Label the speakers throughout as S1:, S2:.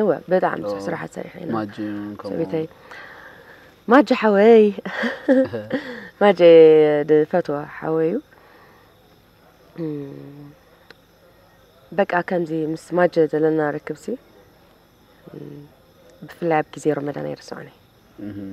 S1: እወ
S2: ብጣዕሚ
S1: ብዙሕ ስራሓት ሰሪሐ ኢና ማጂ እውን ከምኡ ሰበይተይ ማጀ ሓወይ ማጀ ድፈትዎ ሓወይ እዩ እም፣ በቃ ከምዚ ምስ ማጀ ዘለና ርክብሲ እም፣ ብፍላይ ኣብ ግዜ ረመዳን ኣይርስዖን እየ እህም፣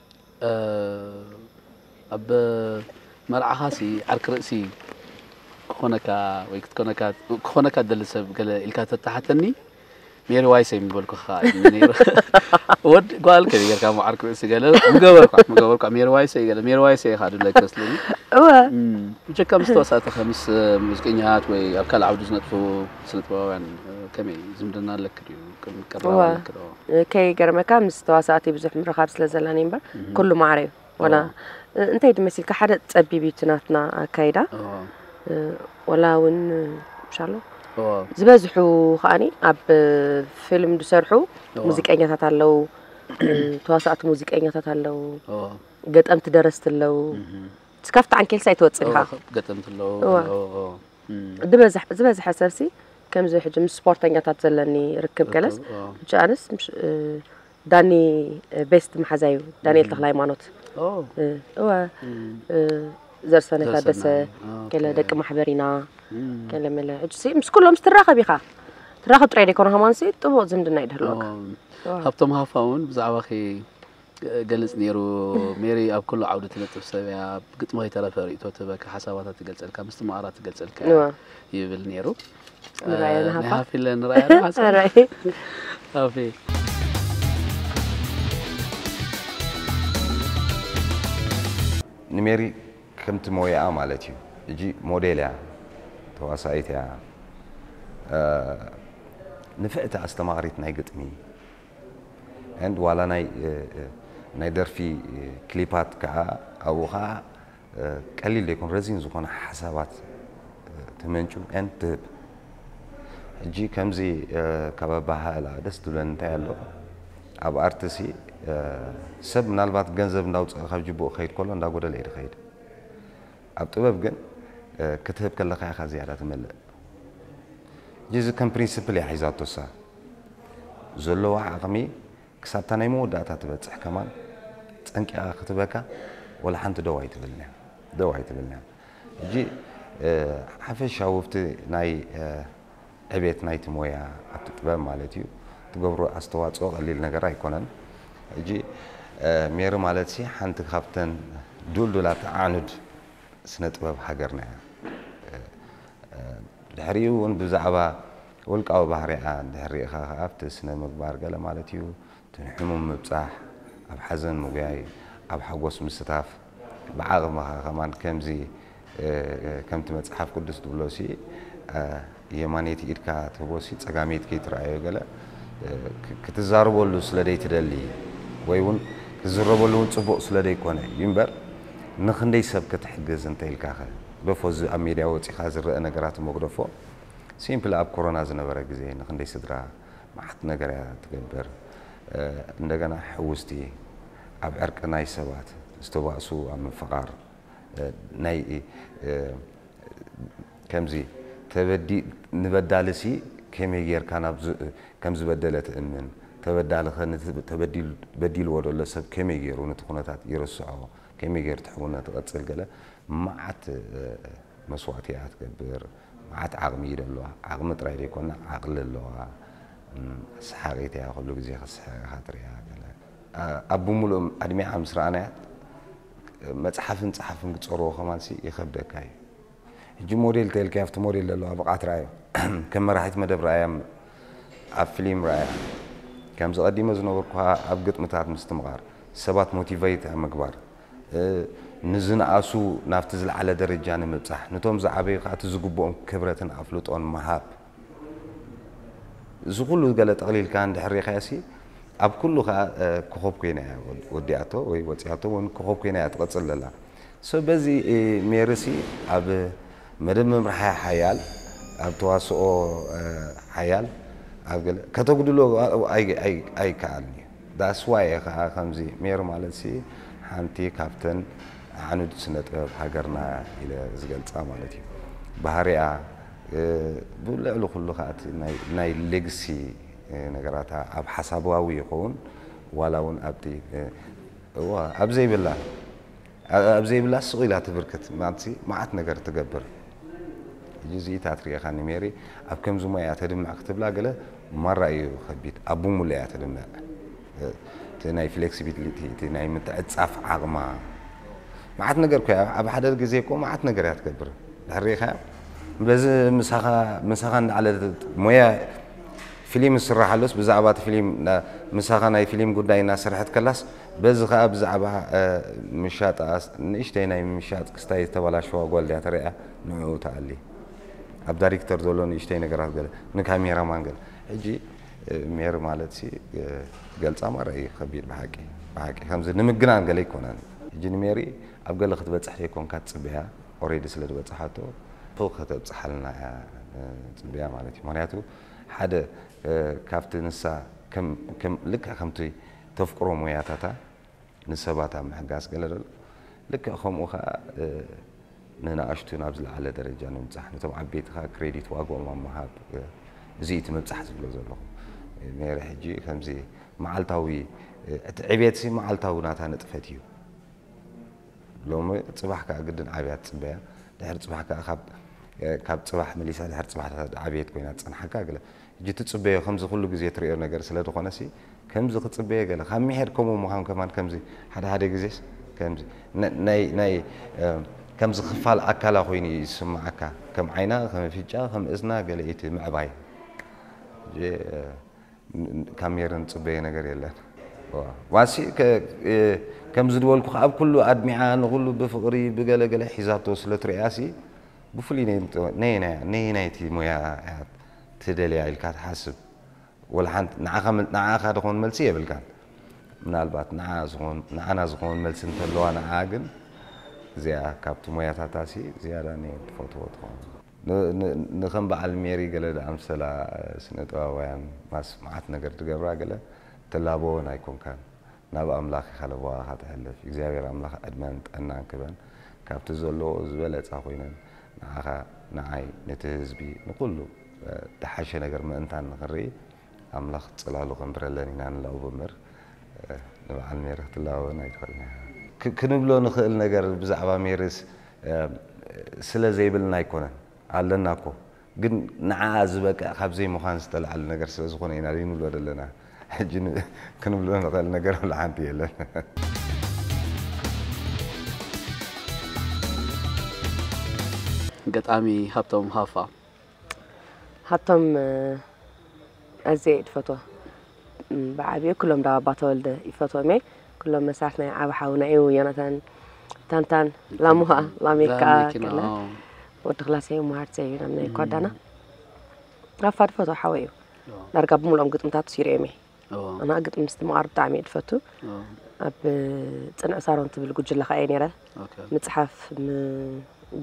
S2: ኣብ መርዓኻ ሲ ዓርኪ ርእሲ ክኾነካ ወይ ክትኮነካ ክኾነካ ትደሊ ሰብ ገለ ኢልካ ተተሓተኒ ሜሪዋይሰይ ምበልኩ ከዓ ነይሩ ወድ ጓል ከ ጌርካ እሞ ዓርኪ ርእሲ ገለ ምገበርኳ ምገበርኳ ሜሪዋይሰይ ገለ ሜሪዋይሰይ ኢኻ ድብለካ ስልኒ እወ
S1: ብጀካ ምስ
S2: ተዋሳእትኸ ምስ ሙዚቀኛታት ወይ ኣብ ካልእ ዓውዲ ዝነጥፉ ስነ ጥበባውያን ከመይ ዝምድና ኣለክ ድዩ ቅብላ እወ፣ ኣለኪ ዶ? እ፣ ከይገርመካ
S1: ምስ ተዋሳእቲ ብዙሕ ምርኻብ ስለ ዘላኒ እምበር እህ፣ ኩሉ ማዕረ እዩ ወላ ኦ፣ እ፣ እንታይ ድ መሲልካ ሓደ ጸቢብ እዩ እቲ ናትና ኣካይዳ ኦ፣ እ፣ ወላ እውን ሻሎ ኦ፣ ዝበዝሑ ከኣኒ ኣብ ፊልም ዝሰርሑ ኦ፣ ሙዚቀኛታት ኣለዉ እ፣ ተዋሳእቲ ሙዚቀኛታት ኣለዉ ኦ፣ ገጠምቲ ደረስቲ ኣለዉ እህ፣ እቲ ካብቲ ዓንኬልሲ ኣይትወጽን ኦ፣ ኢኻ ገጠምቲ ኣለዉ እወ
S2: ኣለዉ፣ ኦ፣ እም፣ ዝበዝሕ
S1: ዝበዝሐ ሰብሲ ከምዚ ሕጂ ምስ ስፖርተኛታት ዘለኒ ርክብ ገለስ ሕጂ ኣነስ ዳኒ ቤስት መሓዛይ እዩ ዳንኤል ተክለሃይማኖት እወ ዘርሰነ ታደሰ ገለ ደቂ ማሕበር ኢና ገለ መለ ሕጂ ምስ ኩሎም ስትራኸብ ኢኻ ትራኸብ ጥራይ ደይኮነ ሃማንሲ ጥቡቕ ዝምድና ይድህልወካ ሃብቶም
S2: ሃፋ እውን ብዛዕባኺ ገሊጽ ኔሩ ሜሪ ኣብ ኩሉ ዓውዲ ትነጥፍ ሰብ እያ ብግጥሚ ከይተረፈ ርእይቶ ትህበካ ሓሳባታ ትገልጸልካ ምስትምቓራ ትገልጸልካ እያ ይብል ኔሩ ንራያ ናይ ንሃፋ ሃፊ ለ ንራያ ዶ ሓጻር ራእይ ሃፊ
S3: ንሜሪ ከምቲ ሞያኣ ማለት እዩ ሕጂ ሞዴል እያ ተዋሳኢት እያ ንፍዕቲ ኣስተማቓሪት ናይ ግጥሚ and ዋላ ናይ ናይ ደርፊ ክሊፓት ከኣ ኣብኡ ከኣ ቀሊል ዘይኮነ ረዚን ዝኾነ ሓሳባት ተመንጩ and ትህብ ሕጂ ከምዚ ካብ ኣበሃህላ ደስ ትብለኒ እንታይ ኣሎ ኣብ ኣርትሲ ሰብ ምናልባት ገንዘብ እንዳውጽኣ ካብ ጅብኡ ክኸይድ ከሎ እንዳጎደለ እዩ ድኸይድ ኣብ ጥበብ ግን ክትህብ ከለካ ኢካ ዝያዳ ትመልእ ጂዚ ከም ፕሪንስፕል እያ ሒዛቶ እሳ ዘለዋ ዓቅሚ ክሳብታ ናይ መወዳእታ ትበጽሕ ከማን ጸንቂቃ ክትበካ ወላ ሓንቲ ደው ኣይትብልን እያ ደው ኣይትብልን እያ ሕጂ ሓፈሻዊ ኣብቲ ናይ ዕቤት ናይቲ ሞያ ኣብቲ ጥበብ ማለት እዩ ትገብሮ ኣስተዋጽኦ ቀሊል ነገር ኣይኮነን ሕጂ ሜሪ ማለትሲ ሓንቲ ካብተን ዱልዱላት ኣዕኑድ ስነ ጥበብ ሃገርና እያ ድሕሪኡ እውን ብዛዕባ ውልቃዊ ባህሪኣ እንድሕር ርኢኻ ከኣ ኣብቲ ስነ ምግባር ገለ ማለት እዩ እተን ሕሙም ምብጻሕ፣ ኣብ ሓዘን ምጉያይ፣ ኣብ ሓጎስ ምስታፍ ብዓቕምኻ ከማን ከምዚ ከምቲ መጽሓፍ ቅዱስ ትብሎሲ የማነይቲ ኢድካ ትህቦሲ ጸጋመይቲ ከይትርኣዮ ገለ ክትዛረበሉ ስለ ደይትደሊ ወይ ውን ክትዝረበሉ ውን ጽቡቕ ስለ ደይኮነ እዩ እምበር ንኽንደይ ሰብ ክትሕግዝ እንተኢልካኸ ግደፎ እዚ ኣብ ሜድያ ወጺኻ ዝረኣ ነገራት እሞ ግደፎ ሲምፕሊ ኣብ ኮሮና ዝነበረ ግዜ ንኽንደይ ስድራ መዓት ነገር እያ ትገብር እንደገና ሕውስቲ ኣብ ዕርቂ ናይ ሰባት ዝተባእሱ ኣብ ምፍቓር ናይ ከምዚ ተበዲ ንበዳልሲ ከመይ ጌርካ ናብ ከም ዝበደለ ትእምን ተበዳልኸ ነቲ ተበዲሉ በዲልዎ ዘሎ ሰብ ከመይ ጌሩ ነቲ ኩነታት ይርስዖ ከመይ ጌሩ እቲ ሕውነት ይቕጽል ገለ መዓት መስዋእቲ እያ ትገብር። መዓት ዓቕሚ እዩ ደለዋ ዓቕሚ ጥራይ ደይኮና ዓቕሊ ኣለዋ ሰሓቒት እያ ኩሉ ግዜ ክትስሕቕ ኢኻ ትርእያ ገለ ኣብ ብምሉእ ኣድሚዓ ምስ ረኣናያ መጽሓፍን ጸሓፍን ክጸርዎ ከማንሲ ይኸብደካ እዩ ሕጂ ሞዴል ተልካያ ኣብቲ ሞዴል ደለዋ ብቕዓት ረኣዮ ከም መራሒት መደብ ረኣያ እምበር ኣብ ፍሊም ረኣያ ከምዚ ቀዲመ ዝነበርኩሃ ኣብ ግጥምታት ምስትምቓር ሰባት ሞቲቨይት ኣብ ምግባር ንዝነኣሱ ናብቲ ዝለዓለ ደረጃ ንምብጻሕ፣ ንቶም ዝዓበዩ ከኣ እቲ ዝግብኦም ክብረትን ኣፍልጦን ምሃብ። እዚ ኩሉ ገለ ጠቕሊልካ እንድሕር ሪእኻዮሲ፣ ኣብ ኩሉ ከኣ ኮኾብ ኮይና እያ ወዲኣቶ ወይ ወጺኣቶ ውን ኮኾብ ኮይና እያ ትቕጽል ዘላ። So በዚ ሜሪሲ ኣብ መደብ ምምራሕ ሓያል፣ ኣብ ተዋስኦ ሓያል፣ ኣብ ገለ ከተጉድሎ ኣይከኣልን እዩ። That's why እየ ከኣ ከምዚ ሜሪ ማለትሲ ሓንቲ ካብተን ኣዕኑድ ስነ ጥበብ ሃገርና ኢለ ዝገልጻ ማለት እዩ ባህሪኣ ብልዕሊ ኩሉ ከኣ እቲ ናይ ሌግሲ ነገራታ ኣብ ሓሳባዊ ይከውን ዋላ ውን ኣብቲ እወ ኣብ ዘይብላ ኣብ ዘይብላ ስቕ ኢላ ትብርክት ማልትሲ መዓት ነገር ትገብር ሕጂ እዚ ኢታ ትሪኤኻኒ ሜሪ ኣብ ከምዚ ሞያ እያ ተድምዕ ክትብላ ገለ ማራ እዩ ከቢድ ኣብ ብሙሉእ እያ ተድምዕ እቲ ናይ ፍሌክሲቢሊቲ እቲ ናይ ምትዕጻፍ ዓቕማ መዓት ነገር እኮ እያ ኣብ ሓደ ግዜ እኮ መዓት ነገር እያ ትገብር ድሕሪ ሪኢኻያ በዚ ምሳኻ ምሳኻ እንዳዓለ ሞያ ፊሊም ዝስራሕ ኣሎስ ብዛዕባ እቲ ፊሊም ምሳኻ ናይ ፊሊም ጉዳይ እናሰርሐት ከላስ በዚ ከኣ ብዛዕባ ምሻጣ ንእሽተይ ናይ ምሻጥ ክስታይ ዝተበላሸዋ ጓል ድያ ተርእያ ንዕኡ ትኣሊ ኣብ ዳሪክተር ዘሎ ንእሽተይ ነገራት ገለ ንካሜራ ማን ገለ ሕጂ ሜሪ ማለትሲ ገልጻ ማራ እዩ ከቢድ ብሓቂ ብሓቂ ከምዚ ንምግናን ገለ ኣይኮነን ሕጂ ንሜሪ ኣብ ገለ ክትበጽሕ ዘይኮንካ ትጽበያ ኦሬዲ ስለ ዝበጽሓቶ ፉእ ከተብጽሓልና እያ ንጽበያ ማለት እዩ ምክንያቱ ሓደ ካብቲ ንሳ ከም ልክዕ ከምቲ ተፍቅሮ ሞያታታ ንሰባት ኣብ ምሕጋዝ ገለ ዶ ኣሎ? ልክዕ ከምኡ ከኣ ንነኣሽቱ ናብ ዝለዓለ ደረጃ ንምብጻሕ፣ ነቶም ዓበይቲ ከኣ ክሬዲት ዋግኦም ኣብ ምሃብ እዚ እዩ እቲ ምብጻሕ ዝብሎ ዘለኹ። ሜሪ ሕጂ ከምዚ መዓልታዊ እቲ ዕብየትሲ መዓልታዊ ናታ ንጥፈት እዩ። ሎሚ ጽባሕ ከኣ ግድን ዓብያ ትጽበያ፣ ድሕሪ ጽባሕ ከኣ ካብ ካብ ጽባሕ መሊሳ ድሕሪ ጽባሕ ዓብየት ኮይና ትጸንሓካ ገለ ሕጂ ትጽበዮ ከምዚ ኩሉ ግዜ ትርእዮ ነገር ስለ ድኮነሲ ከምዚ ክጽበየ ገለ ካብ ሚሒር ከምኡ ምዃን ከማን ከምዚ ሓደ ሓደ ግዜስ ከምዚ ናይ ናይ ከምዚ ክፋል ኣካላ ኮይኑ ኢዩ ዝስምዓካ ከም ዓይና ከም ኣፍንጭኣ ከም እዝና ገለ ኢቲ ምዕባይ ሕጂ ካብ ሜሪ ንጽበዮ ነገር የለን ዋሲ ከምዚ ድበልኩ ኣብ ኩሉ ኣድሚዓ ንኩሉ ብፍቅሪ ብገለ ገለ ሒዛቶ ስለ ትርእያሲ ብፍሉይ ነየናይ ነየናይቲ ሞያ ኢያ ትደልያ ኢልካ ትሓስብ ወላ ሓንቲ ንዓኻ ንዓኻ ድኾን መልሲ የብልካን ምናልባት ንዓ ዝኾን ንዓና ዝኾን መልሲ እንተለዋ ንዓ ግን እዚኣ ካብቲ ሞያታታሲ ዝያዳ ኔ ትፈትዎ ትኸውን ንከም በዓል ሜሪ ገለ ዝኣምሰላ ስነ ጥበባውያን ማስ መዓት ነገር ዝገብራ ገለ ትላበወን ኣይኮንካን ናብ ኣምላክ ኢካ ለበዋካ ተሕልፍ እግዚኣብሔር ኣምላክ ዕድመን ጥዕናን ክበን ካብቲ ዘለወኦ ዝበለፀ ኮይነን ንዓካ ንዓይ ንቲ ህዝቢ ንኩሉ ድሓሸ ነገር ምእንታን ንክንርኢ ኣምላክ ፅላሉ ከንብረለን ኢና ንላኡቦ እምበር ንባዓል ሜሪ ክትላበወን ኣይትክእልን ኢካ ክንብሎ ንክእል ነገር ብዛዕባ ሜሪስ ስለ ዘይብልና ኣይኮነን ኣለና እኮ ግን ንዓኣ ዝበቅዕ ካብ ዘይምዃን ዝተልዓል ነገር ስለ ዝኾነ ኢና ዘይንብሎ ዘለና። ሕጂ ክንብሎ ንኽእል ነገር ዋላ ሓንቲ የለን።
S2: ገጣሚ ሃብቶም ሃፋ።
S1: ሃብቶም ኣዝየ እየ ድፈትዋ። ብዓቢኡ ክሎም ዳባ ኣባተወልደ ይፈትዎም እየ ክሎም መሳርት ናይ ዓብ ሓውና እዩ ዮናታን ታንታን ላሙሃ ላሜካ ከለ ወዲ ክላሰ እዩ መሃርት እዩ ናብ ናይ ኳዳና ኣፋድ ፈቶ ሓወ እዩ ዳርጋ ብምልኦም ግጥምታት ሲሪኦም እየ ኣና ግጥሚ ምስቲ መቃር ብጣዕሚ እየ ድፈቱ ኣብ ፅንዕ ሳሮን ትብል ጉጅለ ከዓ እየ ነረ ምፅሓፍ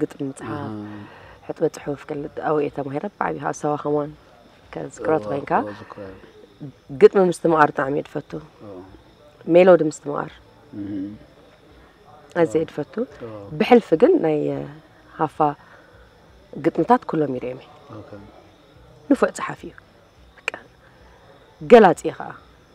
S1: ግጥሚ ምፅሓፍ ሕጥበ ፅሑፍ ኣብኡ እየ ተማሂረ ብዓብዩ ኣብ ሰባ ከማን ከዝክሮ ኮይንካ ግጥሚ ምስትምቓር ብጣዕሚ እየ ድፈቱ ሜሎዲ ምስትምቓር ኣዘ እየ ድፈቱ ብሕልፊ ግን ናይ ሃፋ ግጥምታት ኩሎም ይርኦም እየ ንፉዕ ፀሓፊ እዩ ገላፂ እየ ከዓ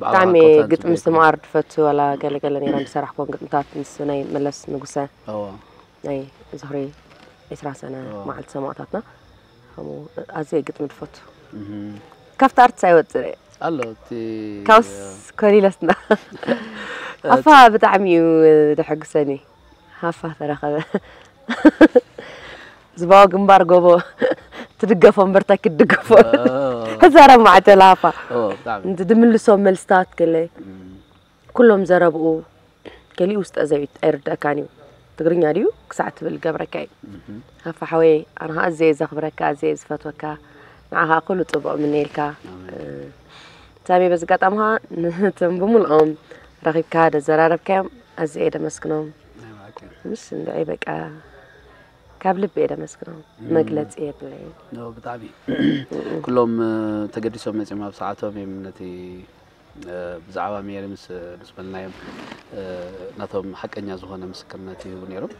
S1: ብጣዕሚ ግጥሚ ስምኣር ድፈቱ ዋላ ገለ ገለ ነይረ ዝሰራሕክዎም ግጥምታት ምስ ናይ መለስ ንጉሰ ናይ ዝኽሪ ዕስራ ሰነ መዓልቲ ሰማእታትና ከምኡ ኣዝየ ግጥሚ ድፈቱ ካብቲ ኣርትስ ኣይወፅእ ኣሎ
S2: እቲ ካብስ
S1: ኮሊለስና ኣፋ ብጣዕሚ እዩ ደሐጉሰኒ ሃፋ ተረኸበ። ዝባዊ ግንባር ጎቦ ትድገፎ እምበር እንታይ ክትድገፎ ክዛረብ ማዓት ለሃፋ እንቲ ድምልሶም መልስታት ገለ ኩሎም ዘረብኡ ገሊኡ ውስጠ ዘቢት ኣይርደእካን እዩ ትግርኛ ድዩ ክሳዕ ትብል ገብረካ እዩ ሃፋ ሓወይ ኣነ ከዓ ኣዘየ ዘኽብረካ ኣዘየ ዝፈትወካ ንዓኻ ኩሉ ፅቡቕ ምነየልካ ሳሚ በዚ ኣጋጣሚ ኸኣ ነቶም ብምልኦም ረኺብካ ዘዘራረብካዮም ኣዝየ እየ ደመስግኖም ምስ እንድዒ በቃ ካብ ልቢ እየ ደመስግኖም መግለጺ የብለይ ዶ ብጣዕሚ
S2: ኩሎም ተገዲሶም መጺኦም ኣብ ሰዓቶም እዮም ነቲ ብዛዕባ ሜሪ ምስ ምስ በልናዮም ናቶም ሓቀኛ ዝኾነ ምስክርነት ይህቡ ነይሮም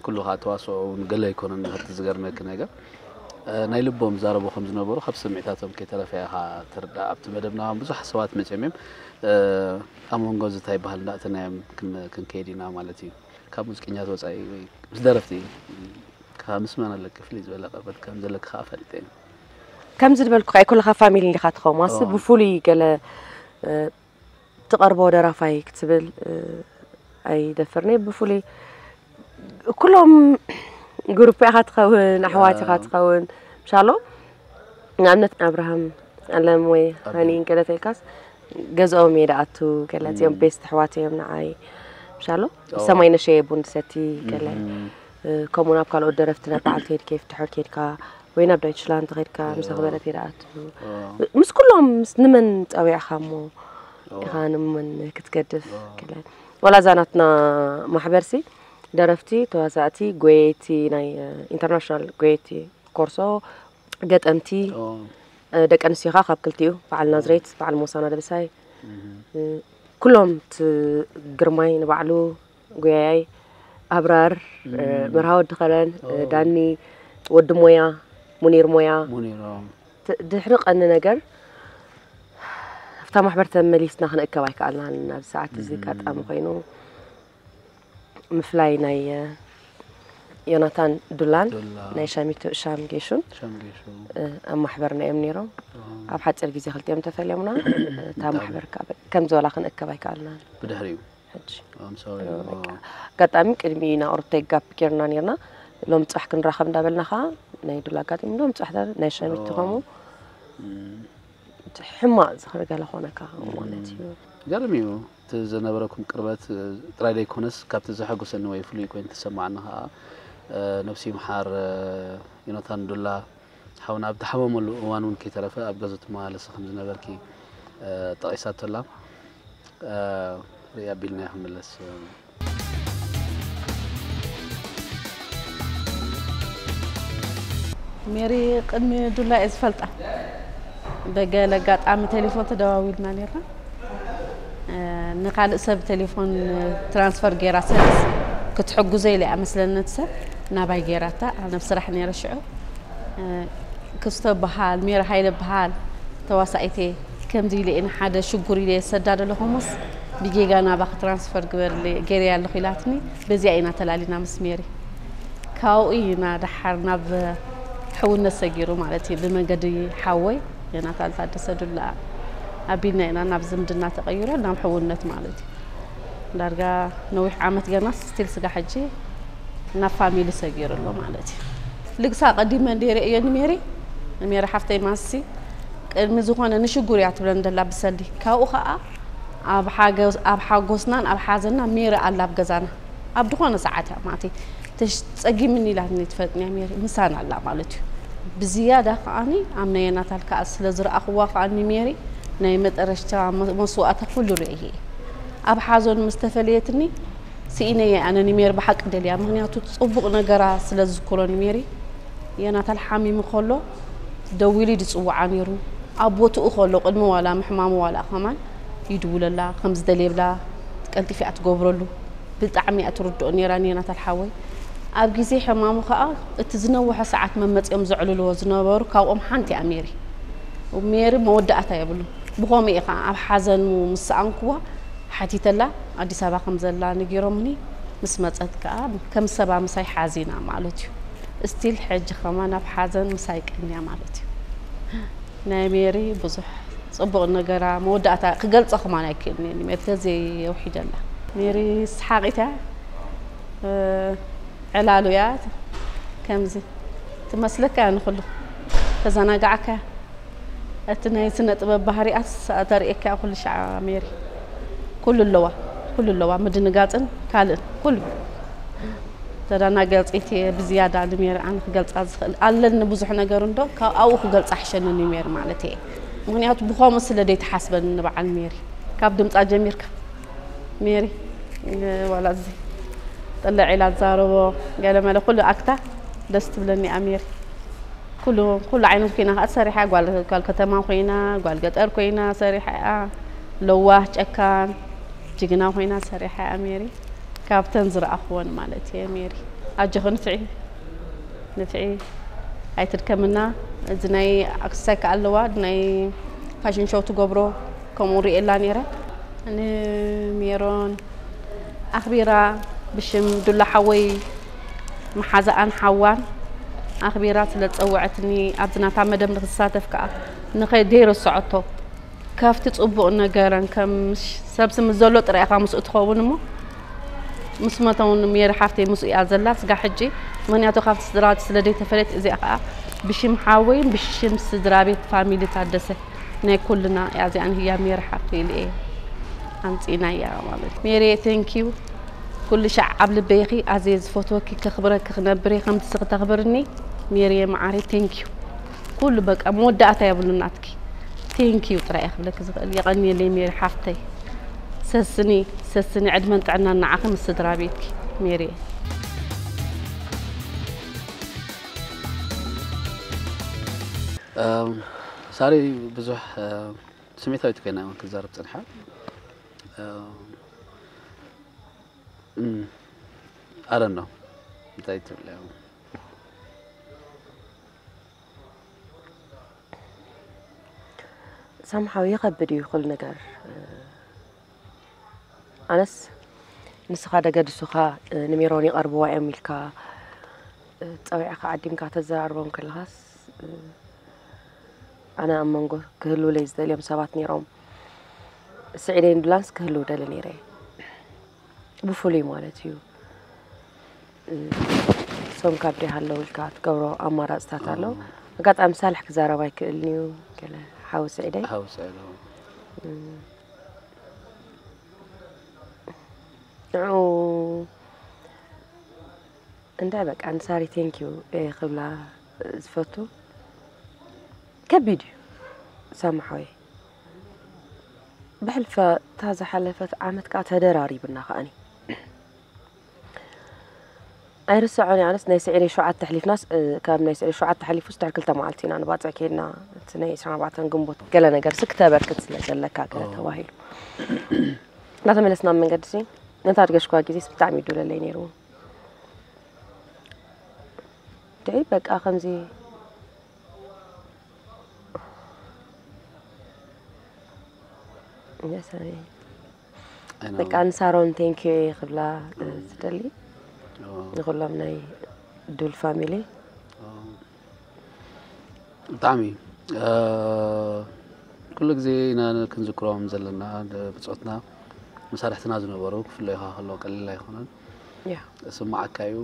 S2: ኩሉ ከኣ ተዋስኦ ውን ገለ ኣይኮነን ምህርቲ ዝገርመኪ ነገር ናይ ልቦም ይዛረቡ ከም ዝነበሩ ካብ ስምዒታቶም ከይተረፈ ኢኻ ትርዳእ ኣብቲ መደብና ብዙሓት ሰባት መጽዮም እዮም ኣብ መንጎ ዝታ ይበሃል እንዳእተናዮም ክንከይድ ኢና ማለት እዩ ካብ ሙዚቀኛት ወጻኢ ወይ ምስ ደረፍቲ ካብ ምስ መን ኣለኪ ፍልይ ዝበለ ቅርበት ከም ዘለኪ ከዓ ፈልጠ እዩ ከምዚ
S1: ዝበልኩ ከ ኩልካ ፋሚሊ ኢኻ ትኸውን ዋስ ብፍሉይ ገለ ትቀርቦ ደራፋይ ክትብል ኣይደፍርንየ ብፍሉይ ኩሎም ግሩፕ ኢኻ ትኸውን ኣሕዋት ኢኻ ትኸውን ምሻሎም ንኣብነት ኣብርሃም ኣለም ወይ ሃኒ እንከለ ተልካስ ገዝኦም እየ ደኣቱ ገለ እዚኦም ቤስት ኣሕዋት እዮም ንዓይ ምሻሎ ሰማይ ነሸየ ቡን ሰቲ ገለ ከምኡ ናብ ካልኦት ደረፍቲ ናብ በዓል ቴዲ ኬፍ ድሕር ኬድካ ወይ ናብ ዳይችላንድ ኸድካ ምስ ኣኽበረት ይርኣት ምስ ኩሎም ምስ ንመን ጸዊዕኻ እሞ ኢኻ ንመን ክትገድፍ ክለ ወላ እዛ ናትና ማሕበርሲ ደረፍቲ ተዋሳእቲ ጎየይቲ ናይ ኢንተርናሽናል ጎየይቲ ኮርሶ ገጠምቲ ደቂ ኣንስትዮኻ ካብ ክልቲኡ በዓል ናዝሬት በዓል ሞሳና ደብሳይ ኩሎም ግርማይ ንባዕሉ ጎያያይ ኣብራር መርሃ ወዲ ከረን ዳኒ ወዲ ሞያ ሙኒር ሞያ ድሕሪ ቀኒ ነገር ኣብታ ማሕበር ተመሊስና ክንእከብ ኣይከኣልናን ናብ ሰዓት እዚ ኣጋጣሚ ኮይኑ ምፍላይ ናይ ዮናታን ዱላን ናይ ሻሚቶ ሻም ጌሹን ኣብ ማሕበርና እዮም ነይሮም ኣብ ሓፂር ግዜ ክልቲኦም ተፈልዮምና እታ ማሕበር ከም ዝበላ ክንእከብ ኣይከኣልና ብድሕሪኡ
S2: ሕጂ I'm sorry
S1: እ፣ እሞ በቃ ኣጋጣሚ ቅድሚ ናብ ሩተይ ጋፕ ጌርና ኔርና ሎሚ ጽባሕ ክንራኸብ እንዳበልና ከኣ ናይ ድል ኣጋጢሙ ሎሚ ጽባሕ ዳ ናይ ሸሚት ኦ፣ ከምኡ እቲ ሕማቕ ዝኽሪ ገለ ኮነካ ማለት እዩ። ገርም እዩ
S2: እቲ ዝነበረኩም ቅርበት እ፣ ጥራይ ዘይኮነስ ካብቲ ዘሐጉሰኒ ወይ ፍሉይ ኮይኑ ተሰማዓኒ ከኣ እ፣ ነብሱ ይምሓር እ፣ ዮናታን ዱላ ሓውና ኣብ ዝሓመመሉ እዋን እውን ከይተረፈ ኣብ ገዝኡ ትመላለሲ ከም ዝነበርኪ ጠቒሳቶ ኣላ። ርእይ ኣቢልናዮ ክንምለስ
S4: ሜሪ ቅድሚ ዱላ እየ ዝፈልጣ። ብገለ ኣጋጣሚ ቴሌፎን ተደዋዊልና ነርና ንካልእ ሰብ ቴሌፎን ትራንስፈር ገይራ ሰለስ ክትሕግዞ ኢለ እያ መስለኒ ነቲ ሰብ ናባይ ገይራታ ኣብ ስራሕ ነይረ ሽዑ ክስቶ በሃል ሜራ ሃይለ በሃል ተዋሳኢት እየ ከምዚ ኢለ እየ ንሓደ ሽጉር ኢለ ሰዳዶ ኣለኹምስ ብጌጋ ናባኺ ትራንስፈር ግበርለ ገይረያ ኣለኹ ኢላትኒ በዚኣ ኢና ተላሊና ምስ ሜሪ ካብኡ ኢና ደሓር ናብ ሕውነት ሰጊሩ ማለት እዩ ብመንገዲ ሓወይ ዮናታን ታደሰ ዱላ ኣቢልና ኢና ናብ ዝምድና ተቐይሮ ናብ ሕውነት ማለት እዩ ዳርጋ ነዊሕ ዓመት ገና ስቲል ስጋ ሕጂ ናብ ፋሚሊ ሰጊሩ ኣሎ ማለት እዩ ልግሳ ቀዲመ እንደ ርእዮ ንሜሪ ንሜሪ ሓፍተይ ማሲ ቅድሚ ዝኾነ ንሽጉር እያ ትብለን ደላ ብሰሊ ካብኡ ከዓ ኣብ ሓጎስናን ኣብ ሓዘና ሜሪ ኣላ ኣብ ገዛና ኣብ ዝኾነ ሰዓት እያ ማለተይ ጸጊምኒ ኢላትኒ ትፈልጥንያ ሜሪ ምሳና ኣላ ማለት እዩ ብዝያዳ ከዓኒ ኣብ ናይ የናታል ከኣ ስለ ዝረኣኽዋ ከዓኒ ሜሪ ናይ መጠረሽታ መስዋእታ ኩሉ ርእየ ኣብ ሓዞን ምስ ተፈለየትኒ ስኢነያ ኣነ ንሜሪ ብሓቂ ደልያ ምክንያቱ ጽቡቕ ነገራ ስለ ዝዝክሮ ንሜሪ የናታል ሓሚሙ ከሎ ደዊሉ ድጽውዓ ነይሩ ኣብ ቦትኡ ከሎ ቅድሚ ዋላ ምሕማሙ ዋላ ከማን ይድውለላ ከም ዝደልየብላ ቀልጢፍ እያ ትገብረሉ ብጣዕሚ እያ ትርድኦ ነይራ ኔናታል ሓወይ ኣብ ግዜ ሕማሙ ከኣ እቲ ዝነወሐ ሰዓት መመጽኦም ዘዕልልዎ ዝነበሩ ካብኦም ሓንቲ እያ ሜሪ ሜሪ መወዳእታ የብሉ ብኸምኡ እየ ከኣ ኣብ ሓዘኑ ምስ ሰኣንኩዋ ሓቲተላ ኣዲስ ኣበባ ከም ዘላ ነጊሮምኒ ምስ መጸት ከኣ ከም ሰባ ምሳይ ሓዚና ማለት እዩ እስቲል ሕጂ ከማን ኣብ ሓዘን ምሳይ ቀንያ ማለት እዩ ናይ ሜሪ ብዙሕ ጽቡቅ ነገራ መወዳእታ ክገልጾ ከማን ኣይክእልን እየ ሜሪ ተዘይ የውሒደላ። ሜሪ ስሓቂት እያ ዕላሉ እያ ከምዚ ትመስለካ እያ ንኩሉ ተዘናጋዕካ እያ እቲ ናይ ስነ ጥበብ ባህሪኣት ተርእየካ እያ ኩሉ ሻዕ ሜሪ ኩሉ ኣለዋ ኩሉ ኣለዋ ምድንጋጽን ካልእን ኩሉ ተዳናጋጺት እየ ብዝያዳ ንሜሪ ኣነ ክገልጻ ዝኽእል ኣለኒ ብዙሕ ነገር እንዶ ካብ ኣብኡ ክገልጻ ሕሸኒ ንሜሪ ማለት እየ ምክንያቱ ብኸምኡ ስለ ዘይተሓስበኒ ንበዓል ሜሪ ካብ ድምጻ ጀሚርካ ሜሪ ዋላ እዚ ጥልዕ ኢላ ትዛረቦ ገለመለ ኩሉ ኣክታ ደስ ትብለኒ እያ ሜሪ ኩሉ ኩሉ ዓይነት ኮይና ከዓ ሰሪሓ ጓል ከተማ ኮይና ጓል ገጠር ኮይና ሰሪሓ እያ ለዋህ ጨካን ጅግና ኮይና ሰሪሓ እያ ሜሪ ካብተን ዝረኣኽወን ማለት እየ ሜሪ ኣጆኺ ንፍዒ ንፍዒ ኣይትድከምና እዚ ናይ ኣክስታይ ከዓ ኣለዋ ናይ ፋሽን ሾው ትገብሮ ከምኡ ርእየላ ነይረ ንሜሮን ኣኽቢራ ብሽም ዱላ ሓወይ መሓዛኣን ሓዋን ኣኽቢራ ስለ ዝፀወዐትኒ ኣብዚ ናታ መደብ ንክሳተፍ ከዓ ንኸደይ ረስዖቶ ካብቲ ጽቡቕ ነገረን ከም ሰብሲ ምስ ዘሎ ጥራይ ኢኻ ምስኡ ትኸውን እሞ ምስ መተውን ሜሪ ሓፍተይ ምስኡ እያ ዘላ ስጋ ሕጂ ምክንያቱ ካብቲ ስድራ ስለ ዘይተፈለየት እዚኣ ከዓ ብሽም ሓወይን ብሽም ስድራ ቤት ፋሚሊ ታደሰ ናይ ኩልና እያ እዚኣ ንህያ ሜሪ ሓፍተይ ልኤ ኣምፂናያ ማለት ሜሪ ቴንኪዩ ኩሉ ሻዕ ኣብ ልበይኺ ኣዝየ ዝፈትወኪ ከኽብረኪ ክነብር እየ ከምቲ ስኺ ተኽብርኒ ሜሪየ መዓረይ ቴንኪዩ ኩሉ በቃ መወዳእታ የብሉን ናትኪ ቴንክ ዩ ጥራይ እየ ክብለኪ ዝኽእል የቐንየለይ ሜሪ ሓፍተይ ሰስኒ ሰስኒ ዕድመን ጥዕናን ንዓኺ ምስ ስድራ ቤትኪ ሜሪየ
S2: ሳሪ ብዙሕ ስሜታዊት ኮይና እውን ክትዛረብ ፅንሓ ኣረኖ እንታይ ትብል
S1: ሳምሓው ይኸብድ እዩ ኩሉ ነገር ኣነስ ንስኻ ደገድሱኻ ንሜሮን ይቐርብዋ እዮም ኢልካ ፀዊዕካ ዓዲምካ ተዘራርቦም ከለኻስ ኣነ ኣብ መንጎ ክህልውለይ ዝደልዮም ሰባት ነይሮም ስዒደ ንዱላንስ ክህልው ደሊ ነይረ ብፍሉይ ማለት እዩ ሶም ካብ ደይ ሃለው ኢልካ ትገብሮ ኣማራጽታት ኣሎ ኣጋጣሚ ሳልሕ ክዛረብ ኣይክእልን እዩ ገለ ሓዊ ስዒደይ ሓዊ ስዒደይ ንዑ እንታይ በቃ ንሳሪ ቴንኪዩ ክብላ ዝፈቱ ከቢድ እዩ ሳማሓወይ ብሕልፈ እታ ዝሓለፈት ዓመት ከዓ ተደራሪብና ከዓኒ ኣይርሰዖን ኣነስ ናይ ስዒር ሸውዓተ ኣሕሊፍናስ ካብ ናይ ስዒር ሸውዓተ ሓሊፉስ ድሕሪ ክልተ መዓልቲ ኢና ንባፅዕ ከይድና እቲ ናይ ዕስራን ኣርባዕተን ግንቦት ገለ ነገር ሲ ክተበርክት ስለ ዘለካ ገለ ተባሂሉ እናተመለስና ኣብ መንገዲ ሲ ነታ ኣድገሽኳ ግዜስ ብጣዕሚ እዩ ዱለለይ ነይሩ ደይ በቃ ከምዚ ሰሪ በቃ ንሳሮን ቴንኪ ዩ እየ ክብላ ዝደሊ ንኩሎም ናይ ዱል ፋሚሊ
S2: ብጣዕሚ ኩሉ ግዜ ኢና ክንዝክሮም ዘለና ብፆትና መሳርሕትና ዝነበሩ ክፍለዩ ከሎ ቀሊል ኣይኮነን ስማዓካ እዩ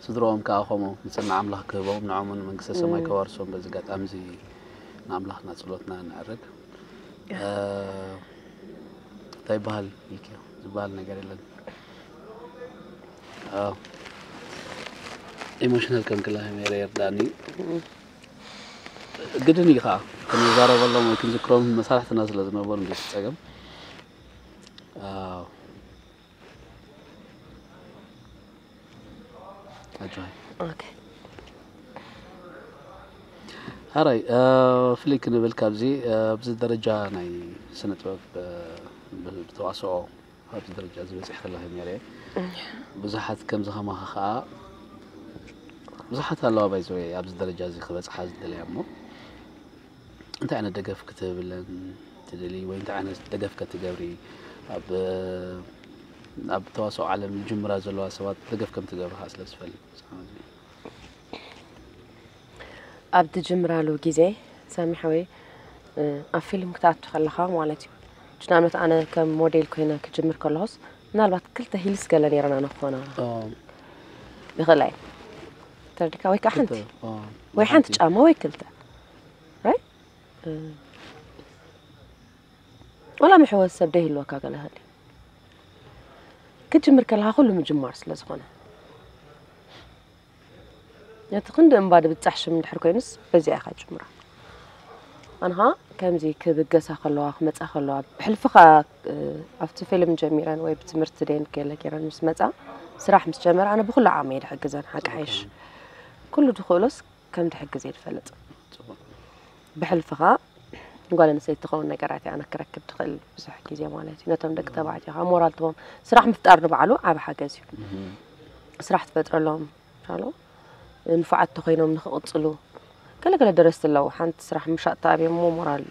S2: ስድሮኦም ከዓ ከምኡ ንፅና ኣምላኽ ክህቦም ንዖምን መንግስተ ሰማይ ከዋርሶም በዚ ኣጋጣሚ እዚ ንኣምላኽና ፀሎትና ነዕርግ እንታይ ይበሃል ኢልክዮ ዝበሃል ነገር የለን ኢሞሽናል ከንክላ ሜረ የርዳእኒ ግድን እዩ ከዓ ክንዛረበሎም ወይ ክንዝክሮም መሳርሕትና ስለ ዝነበሩ እንዴት ፀገም ሐራይ ፍልይ ክንብል ካብዚ ኣብዚ ደረጃ ናይ ስነ ጥበብ ብተዋስኦ ኣብዚ ደረጃ እዚ በፂሕኪ ኣለኺ ነይረ ብዙሓት ከምዚ ከማኺ ከዓ ብዙሓት ኣለዋ ባይዘወ ኣብዚ ደረጃ እዚ ክበፅሓ ዝደለያ እሞ እንታይ ዓይነት ደገፍ ክትህብለን ትደሊ ወይ እንታይ ዓይነት ደገፍ ከትገብሪ ኣብ ኣብ ተዋስኦ ዓለም ጅምራ ዘለዋ ሰባት ደገፍ ከም ትገብሪ ከዓ ስለ ዝፈልጥ ኣብ
S1: ትጅምራሉ ግዜ ሳሚ ሓወይ ኣብ ፊልም ክትኣቱ ከለኻ ማለት እዩ ጅናኖት ኣነ ከም ሞዴል ኮይነ ክጅምር ከለኹስ ምናልባት ክልተ ሂልስ ገለ ነይረና ንክኾና ይኽእላ እዩ ተርዲካ ወይ ከዓ ሓንቲ ወይ ሓንቲ ጫማ ወይ ክልተ ራይ ወላ ምሕወስ ሰብ ደይህልወካ ገለ ህሊ ክትጅምር ከለካ ኩሉ ምጅማር ስለ ዝኾነ ነቲ ክንዲ እምባ ድብፃሕ ሽም እንድሕር ኮይኑስ በዚኣ ኢኻ ጅምራ ኣንሃ ከምዚ ክብገሳ ከለዋ ክመፃ ከለዋ ብሕልፍኻ ኣብቲ ፊልም ጀሚረን ወይ ብትምህርቲ ደን ገለ ገይረን ምስ መፃ ስራሕ ምስ ጀመረ ኣነ ብኩሉ ዓቕሚ እየ ድሕግዘን ሓቂ ሓይሽ ኩሉ ድኽእሎስ ከም ድሕግዝ እየ ድፈልጥ ብሕልፊ ከዓ ጓል ኣንስተይቲ ትኸውን ነገራት እያ ኣነ ክረክብ ድኽእል ብዙሕ ግዜ ማለት እዩ ነቶም ደቂ ተባዕትዮ ከዓ ሞራል ትቦም ስራሕ ምፍጣር ንባዕሉ ዓብ ሓገዝ እዩ ስራሕ ትፈጥረሎም ኣሎ ንፉዓት ተኾይኖም ንኽቕጽሉ ገለ ገለ ደረስቲ ኣለዉ ሓንቲ ስራሕ ምሻጥ ተኣብዮሞ ሞራል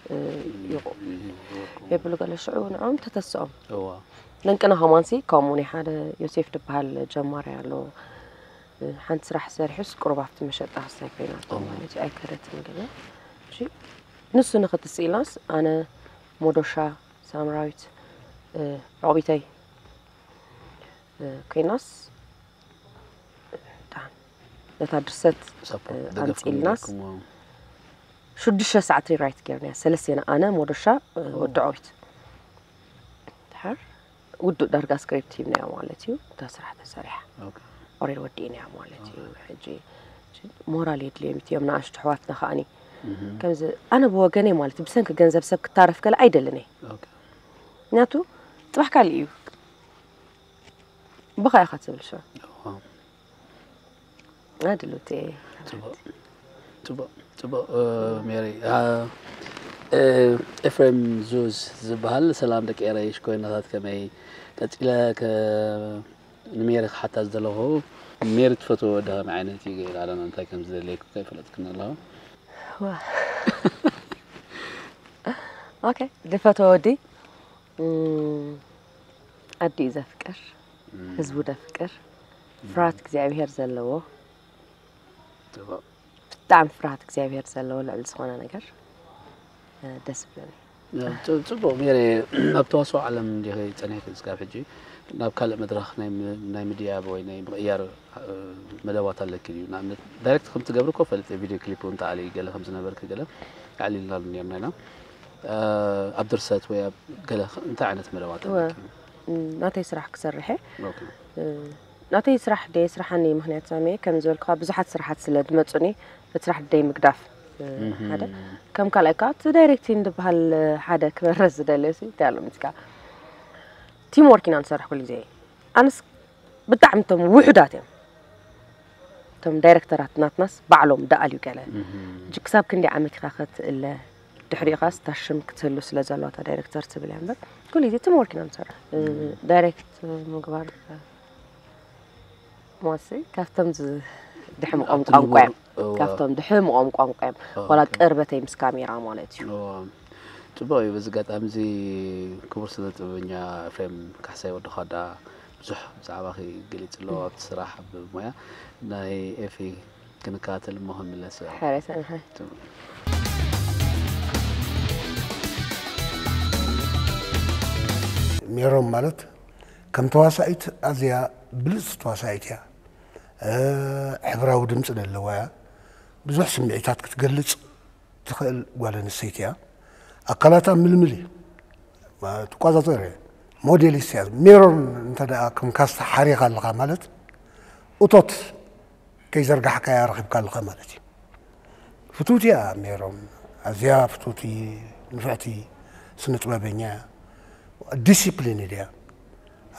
S1: ይቑ የብሉ ገለ ሽዑ ንዕኦም ተተስኦም ለንቅና ሃማንሲ ከምኡ ናይ ሓደ ዮሴፍ ድበሃል ጀማሪ ኣሎ ሓንቲ ስራሕ ሰሪሑስ ቅሩብ ኣብቲ መሸጣ ክሳይ ኮይናቶ ማለት እዩ ኣይከደትን ገለ ንሱ ንኽትስኢልናስ ኣነ ሞዶሻ ሳምራዊት ዕቑቢተይ ኮይናስ ነታ ድርሰት ኣምፅእልናስ ሽዱሽተ ሰዓት ሪራይት ገርናያ ሰለስቴና ኣነ ሞዶሻ ወዲ ዖሪት ድሓር ውዱእ ዳርጋ ስክሪፕት ሂብናያ ማለት እዩ እታ ስራሕ ተሰሪሓ ኦሬድ ወዲእናያ ማለት እዩ ሕጂ ሞራል የድልዮም እዮም ንኣሽቱ ኣሕዋትና ከዓኒ ከምዚ ኣነ ብወገነይ ማለት ብሰንኪ ገንዘብ ሰብ ክታረፍ ከለ ኣይደልን እየ ምክንያቱ ፅባሕ ካልእ እዩ ብኻ ኢኻ ትብል ሸ ኣድሉት ፅቡቅ ፅቡቅ
S2: ፅቡቅ ሜሪ ኤፍሬም ዙዝ ዝበሃል ሰላም ደቂ ኤረይ ሽኮይናታት ከመይ ቀፂለ ንሜሪ ክሓታ ዝደለኹ ሜሪ ትፈትዎ ወዲ ከመይ ዓይነት እዩ ገይራ ኣለና እንታይ ከም ዝደለየኩ ከይፈለጥክኒ ኣለኹ
S1: ኦኬ ዝፈትዎ ወዲ ዓዲኡ ዘፍቅር ህዝቡ ዘፍቅር ፍርሃት እግዚኣብሄር ዘለዎ ብጣዕሚ ፍርሃት እግዚኣብሄር ዘለዎ ልዕሊ ዝኾነ ነገር ደስ ብለኒ ፅቡቅ ገይረ
S2: ኣብ ተዋስኦ ዓለም እንዲ ፀኒሕኪ ክስካብ ሕጂ ናብ ካልእ መድረኽ ናይ ምድያብ ወይ ናይ ምቕያር መደባት ኣለኪ ድዩ ንኣብነት ዳይሬክት ከም ትገብሪ እኮ ፈልጥ ቪድዮ ክሊፕ እውን ተዓሊ ገለ ከም ዝነበርኪ ገለ ኣዕሊልናሉ ነርና ኢና ኣብ ድርሰት ወይ ኣብ ገለ እንታይ ዓይነት መደባት እወ ኣለኪ? እም፣ ናተይ
S1: ስራሕ ክሰርሕ እየ ኦኬ። እ፣ ናተይ ስራሕ ደየ ስራሓኒ እዩ ምክንያት ሳሚየ ከም ዝበልኩኻ ብዙሓት ስራሓት ስለ ዝመፁኒ እቲ ስራሕ ደይ ምግዳፍ እ፣ ሓደ ከም ካልኣይ ከዓ እቲ ዳይሬክቲን ዝበሃል እ፣ ሓደ ክበረስ ዝደልዮ ሲ እንታይ ኣሎ ምስካ ቲም ወርክ ኢና ንሰርሕ ኩሉ ግዜ ኣነስ ብጣዕሚ እቶም ውሑዳት እዮም እቶም ዳይረክተራት ናትናስ ባዕሎም ደኣልዩ ገለ ሕጂ ክሳብ ክንደይ ዓመት ኢኻ ከትእለ ድሕሪኡኻ ስታሽም ክትህሉ ስለ ዘለዋ እታ ዳይሬክተር ትብል እያ እምበር ኩሉ ግዜ ትም ወርክ ኢና ንሰርሕ ዳይሬክት ምግባር መወሰይ ካብቶም ድሕምቆም ቋንቋ እዮም ካብቶም ድሕምቆም ቋንቋ እዮም ዋላ ቅርበተይ ምስ ካሜራ ማለት እዩ ፅቡቅ እዩ
S2: በዚ ኣጋጣሚ እዚ ክቡር ስነ ጥበበኛ ኤፍሬም ካሕሳይ ወዲ ኳዳ ብዙሕ ብዛዕባኺ ገሊፅ ኣለዎ ኣብቲ ስራሕ ኣብ ሞያ ናይ ኤፊ ክንካተል እሞ ክንምለስ
S1: እዮ።
S5: ሕራይ ሰናይ። ሜሮን ማለት ከም ተዋሳኢት ኣዝያ ብልፅ ተዋሳኢት እያ ሕብራዊ ድምፂ ዘለዋ እያ ብዙሕ ስምዒታት ክትገልፅ ትኽእል ጓል ኣንስተይቲ እያ ኣካላታ ምልምል እዩ ትቆፃፀር እየ ሞዴሊስት እያ ሜሮን እንተ ከም ካስታ ሓሪኻ ኣለኻ ማለት እቶት ከይዘርጋሕካያ ረኺብካ ኣለኻ ማለት እዩ ፍትውቲ እያ ሜሮን ኣዝያ ፍትውቲ ንፍዕቲ ስነ ጥበበኛ እያ ዲሲፕሊን እያ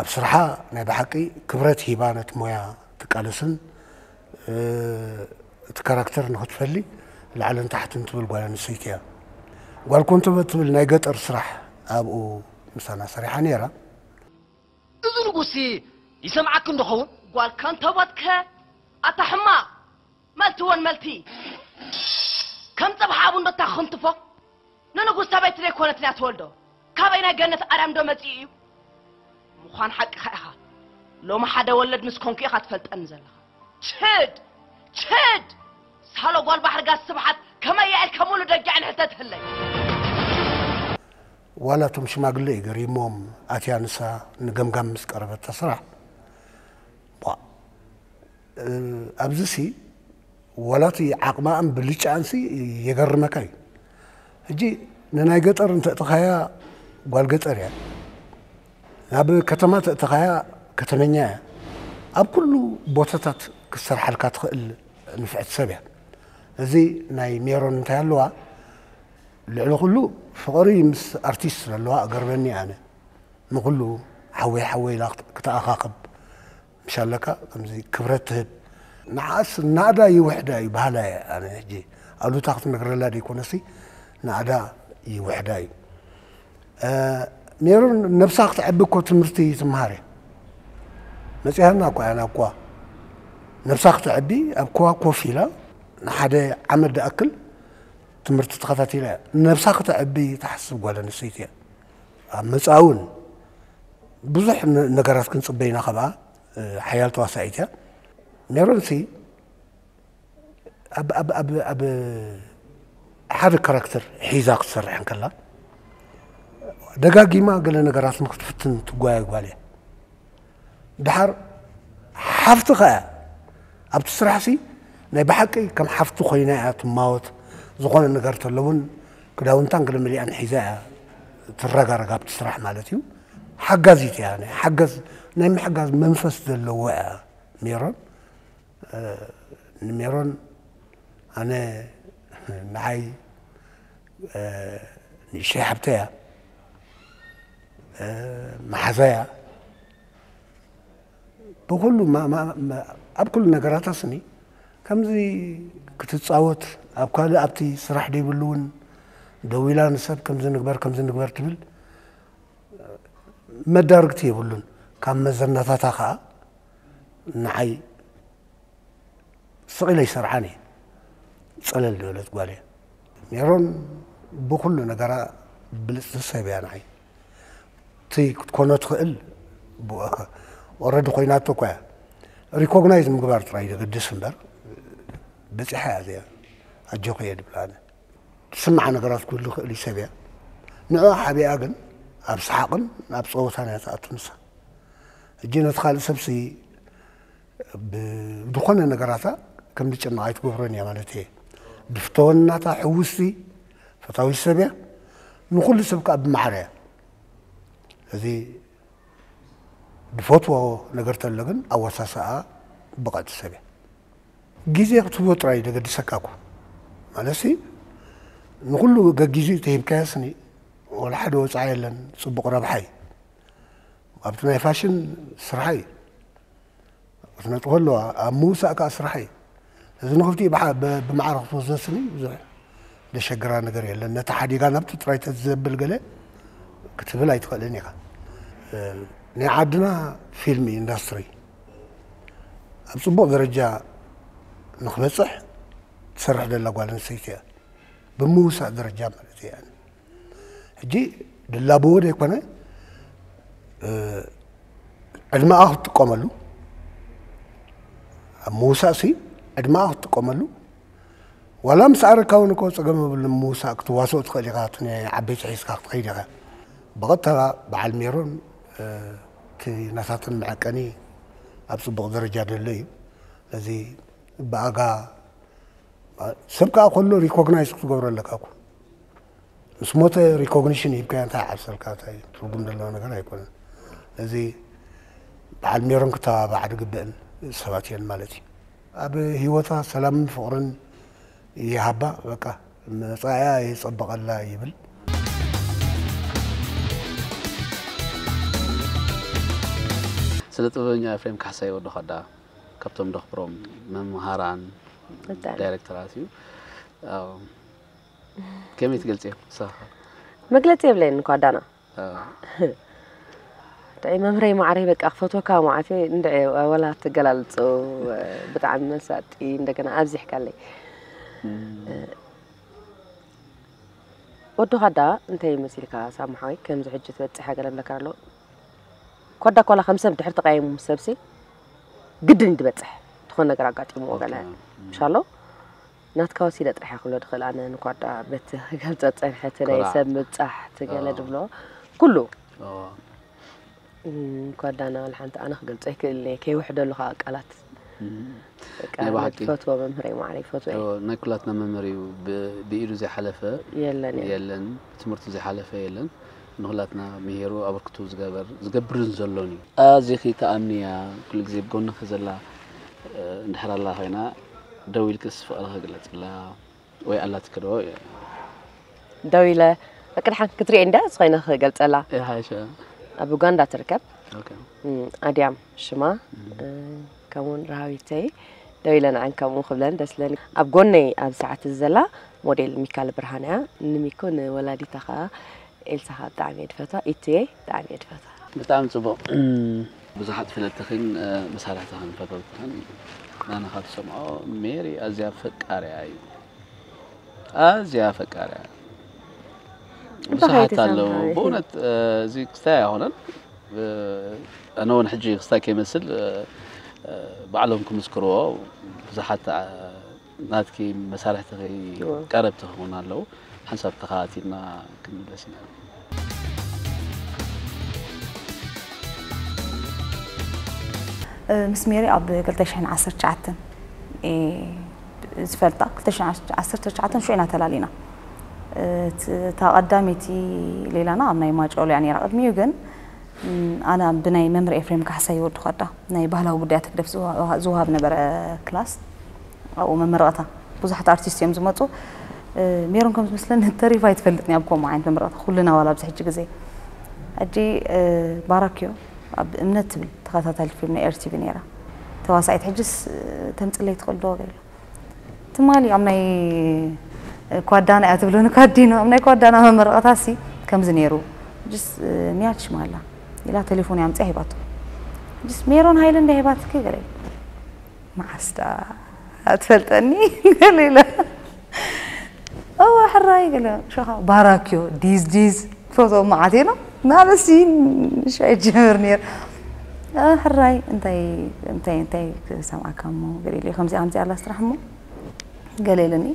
S5: ኣብ ስርሓ ናይ ብሓቂ ክብረት ሂባ ነቲ ሞያ ትቃለስን እቲ ካራክተር ንክትፈሊ ላዕልን ታሕትን ትብል ጓል ኣንስተይቲ እያ ጓል ኮንተበ ትብል ናይ ገጠር ስራሕ ኣብኡ ምሳና ሰሪሓ ነይራ
S6: እዚ ንጉስሲ ይሰምዓኪ እንዶ ኸውን? ጓል ከንቶቦትከ ኣታ ሕማቕ፣ መልቲ ወን መልቲ፣ ከም ጸብሒ ኣብ እንዶ እታ ክንትፎ፣ ንንጉስ ሰበይቲ ዘይኮነት ድያ ትወልዶ? ካበይ ናይ ገነት ኣርያም ዶ መጺኡ እዩ? ምዃን ሓቅኻ ኢኻ፣ ሎሚ ሓደ ወለድ ምስ ኮንኩ ኢኻ ትፈልጠኒ ዘለኻ። ችድ ችድ ሳሎ ጓል ባሕሪ ጋስ ስብሓት ከመይ እያ ኢልካ ሙሉ ደጊዕን ሕተትህለይ።
S5: ዋላ እቶም ሽማግለ እዩ ገሪሞም ኣትያ ንሳ ንገምጋም ምስ ቀረበት ተስራሕ ኣብዚ ሲ ዋላ እቲ ዓቕማኣን ብልጫኣን ሲ የገርመካ እዩ ሕጂ ንናይ ገጠር እንተእተኻያ ጓል ገጠር እያ ናብ ከተማ ተእተኻያ ከተመኛ እያ ኣብ ኩሉ ቦታታት ክትሰርሓልካ ትኽእል ንፍዕቲ ሰብ እያ እዚ ናይ ሜሮን እንታይ ኣለዋ ልዕሊ ኩሉ ፍቕሪ ምስ ኣርቲስት ዘለዋ እገርመኒ ኣነ ንኹሉ ሓወይ ሓወይ ኢላ ክትኣኻኽብ ምስ ኣለካ ከምዚ ክብረት ትህብ። ንዓኣስ ናእዳ ይውሕዳ እዩ በሃላይ እየ ኣነ ሕጂ ኣሉታ ክትነግረላ ደይኮነሲ ናእዳ ይውሕዳ እዩ ሜሮን ነብሳ ክትዐቢ እኮ ትምህርቲ ትምሃር እያ መጺሃና እኮ እያ ናብ ኩዋ ነብሳ ክትዐቢ ኣብ ኩዋ ኮፍ ኢላ ንሓደ ዓመት ድኣክል ትምህርቲ ተኸታቲላ እያ ነብሳ ክተዐቢ ትሓስብ ጓል ኣንስተይቲ እያ ኣብ መጻኢ እውን ብዙሕ ነገራት ክንጽበ ኢና ካብኣ ሓያል ተዋሳኢት እያ ሜሮንሲ ኣብ ሓደ ካራክተር ሒዛ ክትሰርሕ እንከላ ደጋጊማ ገለ ነገራት ንክትፍትን ትጓየ ጓል እያ ደሓር ሓፍትኻ እያ ኣብቲ ስራሕሲ ናይ ብሓቂ ከም ሓፍቲ ኮይና እያ ትማወት ዝኾነ ነገር ተሎ እውን ክዳውንታን ገለመሊኣን ሒዛ እያ ትረጋረግ ኣብቲ ስራሕ ማለት እዩ ሓጋዚት እያ ናይ ሓገዝ ናይ ምሕጋዝ መንፈስ ዘለዎ እያ ሜሮን ንሜሮን ኣነ ንዓይ ንእሽተይ ሓብተይ እያ መሓዛያ ብኩሉ ኣብ ኩሉ ነገራታ ስኒ ከምዚ ክትፃወት ኣብ ካልእ ኣብቲ ስራሕ ደይብሉ እውን ደው ኢላ ንሰብ ከምዚ ንግበር ከምዚ ንግበር ትብል መዳርግቲ የብሉን ካብ መዘናታታ ከዓ ንዓይ ስቕ ኢለ ይሰርዓን እየ ፀለል ዝበለት ጓል እየ ሜሮን ብኹሉ ነገራ ብልጽቲ ሰብ እያ ንዓይ እቲ ክትኮኖ ትኽእል ብኡከ ኦረዲ ኮይናቶ እኳ እያ ሪኮግናይዝ ምግባር ጥራይ ዘገድስ እምበር በጺሓ እያ እዚኣ ኣጆኺ እየ ድብላ ኣነ ትስምዓ ነገራት ክህሉ ይኽእል እዩ ሰብ እያ ንዕኣ ሓቢኣ ግን ኣብ ሰሓቕን ኣብ ጸወታን እያ ትኣቱ ንሳ እጂ ነቲ ካልእ ሰብሲ ብዝኾነ ነገራታ ከም ዝጨነቕ ኣይትገብሮን እያ ማለት እየ። ብፍተወን ናታ ሕውስቲ ፈታዊት ሰብ እያ። ንኹሉ ሰብ ከዓ ብማዕረ እያ። እዚ ድፈትዎ ነገር ተሎ ግን ኣወሳስኣኣ ብቐዕቲ ሰብ እያ። ግዜ ክትህቦ ጥራይ ደገድሰካ እኮ ማለትሲ ንኹሉ ገጊዚኡ ተሂብካዮስኒ ወላ ሓደ ወፃኢ የለን። ፅቡቕ ረብሓ እዩ። ኣብቲ ናይ ፋሽን ስርሓ እዩ። ክነጥፎ ኣለዋ ኣብ ምውሳእ ከዓ ስራሕ እዩ እዚ ንክፍቲ ብማዕረ ክትወስዶ ስኒ ብዙሕ ዘሸግራ ነገር የለን ነቲ ሓዲጋ ናብቲ ጥራይ ተዘብል ገለ ክትብል ኣይትኽእልን ኢኻ ናይ ዓድና ፊልም ኢንዳስትሪ ኣብ ፅቡቕ ደረጃ ንክበፅሕ ትሰርሕ ዘላ ጓል ኣንስተይቲ እያ ብምውሳእ ደረጃ ማለት እያ ሕጂ ድላብዎ ዘይኮነ ዕድመኣ ክትጥቀመሉ ኣብ ምውሳእ ሲ ዕድመኣ ክትጥቀመሉ ዋላ ምስ ኣረካ እውን እኮ ፀገም የብሉ ምውሳእ ክትዋስኦ ትኽእል ኢኻ እቲ ዓበይቲ ሒዝካ ክትኸይድ ኢኻ ብቐጥታ በዓል ሜሮን እቲ ናታትን መዐቀኒ ኣብ ፅቡቕ ደረጃ ደሎ እዩ ነዚ ብኣጋ ሰብ ከዓ ከሎ ሪኮግናይዝ ክትገብሮ ኣለካ እኮ ምስ ሞተ ሪኮግኒሽን ሂብካዮ እንታይ ይዓብሰልካ እንታይ ትርጉም ዘለዎ ነገር ኣይኮነን እዚ በዓል ሜሮን ክተባባዕ ዝግበእን ሰባት እየን ማለት እዩ ኣብ ህይወታ ሰላምን ፍቕርን ይሃባ በቃ መፃእያ የፀበቐላ ይብል
S2: ስነ ጥበበኛ ኤፍሬም ካሕሳይ ወዲ ኳዳ ካብቶም ደኽብሮም መምሃራን ዳይሬክተራት እዩ ከመይ ትገልጽዮ ንስኻኸ? መግለጺ
S1: የብለይን እኳ ዳና ድዒ መምህረይ ማዕረይ በቃ ክፈትወካ ማዓት እንድዒ ወላ ትገላልጹ ብጣዕሚ መሳጢ እንደገና ኣብዚሕካለይ ወዲ ኳዳ እንታይ መሲልካ ሳሙ ሓወይ ከምዚ ሕጂ ትበጽሕ ሃገር ኣለካ ኣሎ ኳዳ ኳላ ከም ሰብ ድሕሪ ተቃየሙ ምስ ሰብሲ ግድን ድበጽሕ ዝኾነ ነገር ኣጋጢሙ ወገና ምሻ ኣሎ ናትካ ወሲደ ጥራሕ'የ ክብሎ ድኽእል ኣነ ንኳርድኣ በቲ ክገልጸ ዝጸንሐ እቲ ናይ ሰብ ምብጻሕ እቲ ገለ ድብሎ ኩሉ ኳርድኣ ናበል ሓንቲ ኣነ ክገልጾ ኣይክእልን'የ ከይውሕደሉ ከኣ ቃላት ናይ ብሓቂ ትፈትዎ መምህረይ ማዕረይ ይፈትዎ ናይ ኩላትና መምህር እዩ
S2: ብኢዱ ዘይሓለፈ የለን የለን ትምህርቱ ዘይሓለፈ የለን ንኹላትና ምሂሩ ኣበርክትኡ ዝገበር ዝገብርን ዘሎን እዩ። ኣዚኺ ትኣምኒ እያ ኩሉ ግዜ ብ ጎንኺ ዘላ እንድሕር ኣላ ኮይና ደው ኢልክስ ፍቅርኺ ግለጽላ ወይ ኣላትኪ ዶ እየ
S1: ደው ኢለ በቃ ድሓን ክትሪኤ እንድያ ዝኾይነ ክገልጸላ ይሓይሽ
S2: ኣብ ኡጋንዳ
S1: ትርከብ ኦኬ
S2: ኣድያም
S1: ሽማ ከምኡውን ራሃዊተይ ደው ኢለ ንዐን ከምኡ ክብለን ደስ ለኒ ኣብ ጎነይ ኣብ ሰዓት እዚ ዘላ ሞዴል ሚካል ብርሃን እያ ንሚኮ ንወላዲታ ከዓ ኤልሳ ከዓ ብጣዕሚ እየ ድፈትዋ ኢትየ ብጣዕሚ እየ ድፈትዋ ብጣዕሚ ጽቡቕ
S2: ብዙሓት ፍለጥኽን መሳርሕትኽን ፈተውትኽን ናና ካብ ትሰምዖ ሜሪ ኣዝያ ፈቃሪያ እዩ ኣዝያ ፈቃሪያ ብዙሓት ኣለዉ ብእውነት እዚ ክስታይ ኣይኮነን ኣነ ውን ሕጂ ክስታይ ከይመስል ባዕሎም ክምስክርዎ ብዙሓት ናትኪ መሳርሕትኺ ቀረብትኺ ውን ኣለው ሓንሳብ ተኸታቲልና ክንምለስ ኢና።
S7: ምስ ሜሪ ኣብ ክልተ ሽሕን ዓሰርተ ትሽዓተን እየ ዝፈልጣ ክልተ ሽሕን ዓሰርተ ትሽዓተን ሽዑ ኢና ተላሊና። እታ ቀዳመይቲ ሌላና ኣብ ናይ ማጨሎ እያ ነይራ። ቅድሚኡ ግን ኣነ ብናይ መምህር ኤፍሬም ካሕሳይ ወዲ ኳዳ ናይ ባህላዊ ጉዳያት ህግደፍ ዝወሃብ ነበረ ክላስ ኣብኡ መመረቕታ ብዙሓት ኣርቲስት እዮም ዝመፁ ሜሮን ከም ዝመስለኒ ተሪፋ ኣይትፈልጥን እያ ኣብ ከምኡ ዓይነት መመረቕታ ኩልና ዋላ ኣብዚ ሕጂ ግዜ ሕጂ ባራክዮ ኣብ እምነት ትብል ተኸታታሊት ፊልም ናይ ኤርቲቪ ነይራ ተዋሳኢት ሕጅስ ተምጽለይ ትኽእል ዶ በይላ ትማሊ ኣብ ናይ ኳዳና እያ ትብለኒ ኳዲኖ ኣብ ናይ ኳዳና መመረቐታ ሲ ከምዚ ነይሩ ሕጅስ ንያድ ሽማላ ኢላ ቴሌፎን ኣምጽያ ሂባቶ ሕጅስ ሜሮን ሃይለ እንዳ ሂባትኪ ገለ መዓስ ደኣ ትፈልጠኒ ገለ ኢለ እወ ሕራይ ገለ ሸኻ ባራክዮ ዲዝ ዲዝ ፈትዎም መዓት ኢሎም ናበሲ ሻይ ጀምር ነይረ ሕራይ እንታይ እንታይ እንታይ ክሰምዓካ እሞ ገለ ኢለ ከምዚኣ ከምዚኣ ኣላ ስራሕ እሞ ገለ ኢለኒ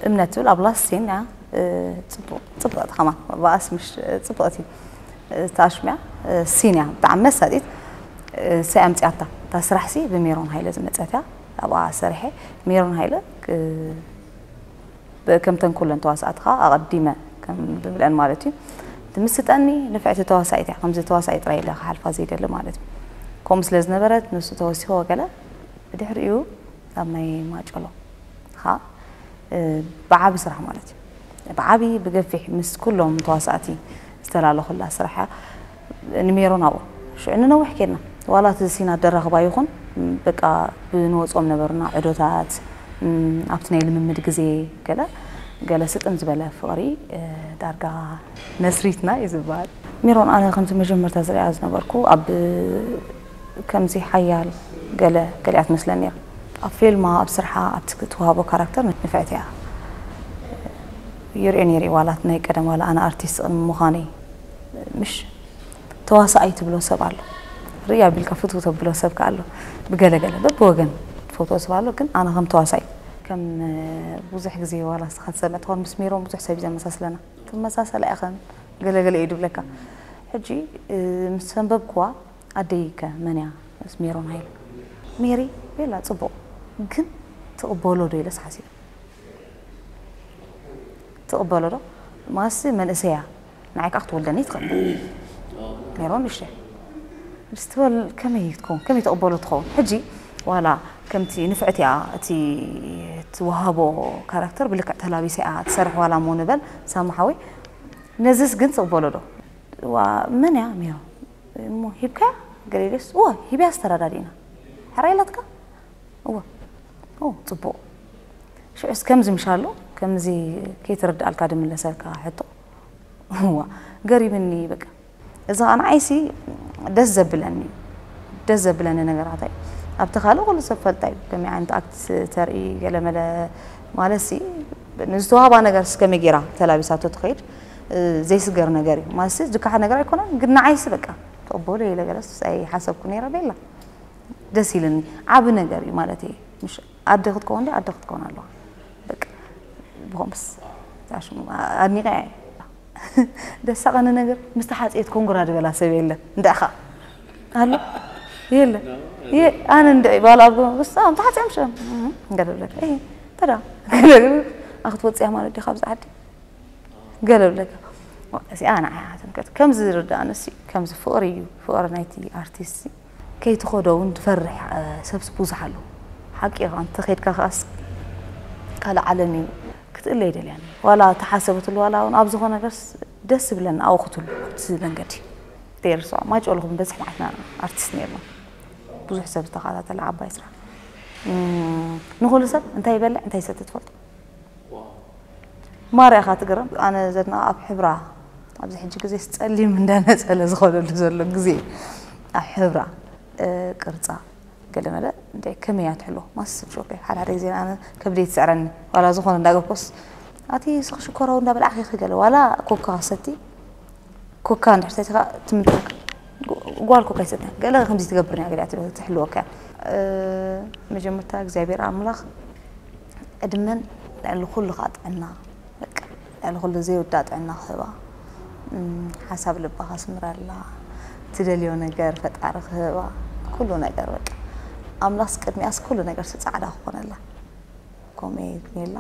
S7: እምነት ትብል ኣብ ላስቲን እያ ፅቡቕ ፅብቕቲ ከማ ብኣስ ምሽ ፅብቕቲ እታ ሽሚያ ሲን እያ ብጣዕሚ መሳጢት እሰይ ኣምጺኣታ እታ ስራሕ ሲ ብሜሮን ሃይለ ዝመጸት እያ ኣብኣ ሰሪሐ ሜሮን ሃይለ ከምተን ኩለን ተዋሳእቲ ከዓ ኣቐዲመ ከም ዝብለን ማለት እዩ ትምስጠኒ ንፍዕቲ ተዋሳኢት እያ ከምዚ ተዋሳኢ ጥራይ ኢለ ክሓልፋ ዘይደሊ ማለት እዩ ከምኡ ስለ ዝነበረት ንሱ ተወሲኹ ወገለ ብድሕሪኡ ኣብ ናይ ማጨሎ ከዓ ብዓቢ ስራሕ ማለት እዩ ብዓቢ ብገፊሕ ምስ ኩሎም ተዋሳእቲ ዝተላለኹላ ስራሕ እያ። ንሜሮን ኣብኡ ሽዑ ንነዊሕ ኬድና ዋላ እቲ ሲን ኣደራኽባ ይኹን በቃ ብንወጾም ነበሩና ዑዶታት ኣብቲ ናይ ልምምድ ግዜ ገለ ገለ ስጥም ዝበለ ፍቕሪ ዳርጋ መስሪትና እዩ ዝበሃል። ሜሮን ኣነ ከምቲ መጀመርታ ዝርእያ ዝነበርኩ ኣብ ከምዚ ሓያል ገለ ገሊኣ ትመስለኒ እያ። ኣብ ፊልማ ኣብ ስርሓ ኣብቲ ትዋሃቦ ካራክተር ንፍዕቲ እያ ይርእዮ ነይረ እዩ ዋላ ናይ ቀደም ዋላ ኣነ ኣርቲስት ቅድሚ ምዃነይ ምሽ ተዋሳኣይ ትብሎ ሰብ ኣሎ ርእይ ኣቢልካ ፍትው ተብሎ ሰብ ከኣ ኣሎ ብገለ ገለ በብወገን ትፈትዎ ሰብ ኣሎ ግን ኣነ ከም ተዋሳይ ከም ብዙሕ ግዜ ዋላ ንስኻ ትሰምዕ ትኾን ምስ ሜሮን ብዙሕ ሰብ እዩ ዘመሳስለና ትመሳሰላ ኢኽን ገለ ገለ እዩ ድብለካ ሕጂ ምስ ኣንበብክዋ ኣደይ ከ መን እያ ምስ ሜሮን ሃይለ? ሜሪ ቤላ ጽቡቕ ግን ትቕበሎ ዶ ኢለስ ሓሲበ ትቕበሎ ዶ ማስ መንእሰይ እያ ንዓይ ከኣ ክትወልደኒ ትኽእል ሜሮን ንእሽቶ እያ ምስ ትበል ከመይ ትከውን ከመይ ትቕበሎ ትኸውን ሕጂ ዋላ ከምቲ ንፍዕቲ እያ እቲ ትወሃቦ ካራክተር ብልክዕ ተላቢሳ እያ ትሰርሕ ዋላ እሞ ንበል ሳማ ሓወይ ነዝስ ግን ትቕበሎ ዶ ዋ መን እያ ሜሮን እሞ ሂብካያ ገሌሌስ እወ ሂብያስ ተረዳዲእና ሕራይ ኢላትካ እወ ኦ ጽቡቕ ሽዑስ ከምዚ ምሻሉ ከምዚ ከይተረድኣልካ ድምለሰልካ ሕቶ እዋ ገሪምኒ በቃ እዚ ከዓ ንዓይሲ ደስ ዘብለኒ ደስ ዘብለኒ ነገራት እዩ ኣብቲ ካልእ ኩሉ ሰብ ፈልጣ እዩ ከመይ ዓይነት ኣክት ተርኢ ገለመለ ማለትሲ ንዝተዋህባ ነገር ከመይ ገይራ ተላቢሳቶ ትኸይድ ዘይስገር ነገር እዩ ማለትሲ ዝከሓድ ነገር ኣይኮነን ግን ንዓይሲ በቃ ተቕበሎ ኢለ ገለስ ኣይሓሰብኩ ነይረ ቤላ ደስ ኢልኒ ዓቢ ነገር እዩ ማለት እየ ምሽ ኣደ ክትከውን ዶ ኣደ ክትከውን ኣለዋ በቃ ብኸምስ ኣድኒቀ እየ ደሳቐኒ ነገር ምስ ተሓፅየት ኮንግራ ዝበላ ሰብ የለን እንዳኻ ኣሎ የለ ኣነ እንደ ባል ኣብ ስም ተሓፅዮም ሸ እንገደብለካ ተዳ ኣክትወፅያ ማለት ዲኻ ብዛ ዓዲ ገለ ብለካ እዚኣ ንዓይ ትምልከት ከም ዝርድኣንሲ ከምዚ ፍቕሪ እዩ ፍቕሪ ናይቲ ኣርቲስት ከይትኸዶ እውን ዝፈርሕ ሰብሲ ብዙሕ ኣሎ ሓቂ ኢኻ እንተኸድካ ከኣስ ካልእ ዓለም እዩ ክትእለ ይደልያን ዋላ ተሓሰበትሉ ዋላ እውን ኣብ ዝኾነ ነገርስ ደስ ዝብለና ኣብኡ ክትሉ ኣብቲ መንገዲ ደርሶ ማይጨው ለኹም በዝሕ መዓትና ኣርቲስት ነርና ብዙሕ ሰብ ዝተኸታተለ ዓባይ ስራሕ ንኹሉ ሰብ እንታይ ይበልዕ እንታይ ይሰቲ ትፈልጡ ማራ ኢኻ ትግረም ኣነ ዘድንቓ ኣብ ሕብራ ኣብዚ ሕጂ ግዜስ ጸሊም እንዳ ነጸለ ዝኾነሉ ዘሎ ግዜ ኣብ ሕብራ ቅርጻ ገለ መለ እንታይ ከመይ እያ ትሕሎ ማስ ሾፌ ሓደ ሓደ ግዜ ኣነ ከብደይ ትስዕረኒ ዋላ ዝኾነ እንዳገብኮስ ኣቲ ስኽ ሽኮራዊ እንዳበላዕኺ ገለ ዋላ ኮካ ሰቲ ኮካ እንድሕር ሰቲኻ ትምልሰካ ጓል ኮካ ይሰትያ ገለ ከምዚ ትገብር እያ ገሊኣ ትብል ትሕልወካ እያ መጀመርታ እግዚኣብሔር ኣምላኽ ዕድመን ልዕሊ ኩሉ ከዓ ጥዕና በቃ ልዕሊ ኩሉ ዘይውዳእ ጥዕና ክህባ ሓሳብ ልባ ከስምረላ ትደልዮ ነገር ፈጣሪ ክህባ ኩሉ ነገር በቃ ኣምላኽስ ቅድሚኣስ ኩሉ ነገርሲ ፃዕዳ ክኾነላ ከምኡ እዩ ሜላ።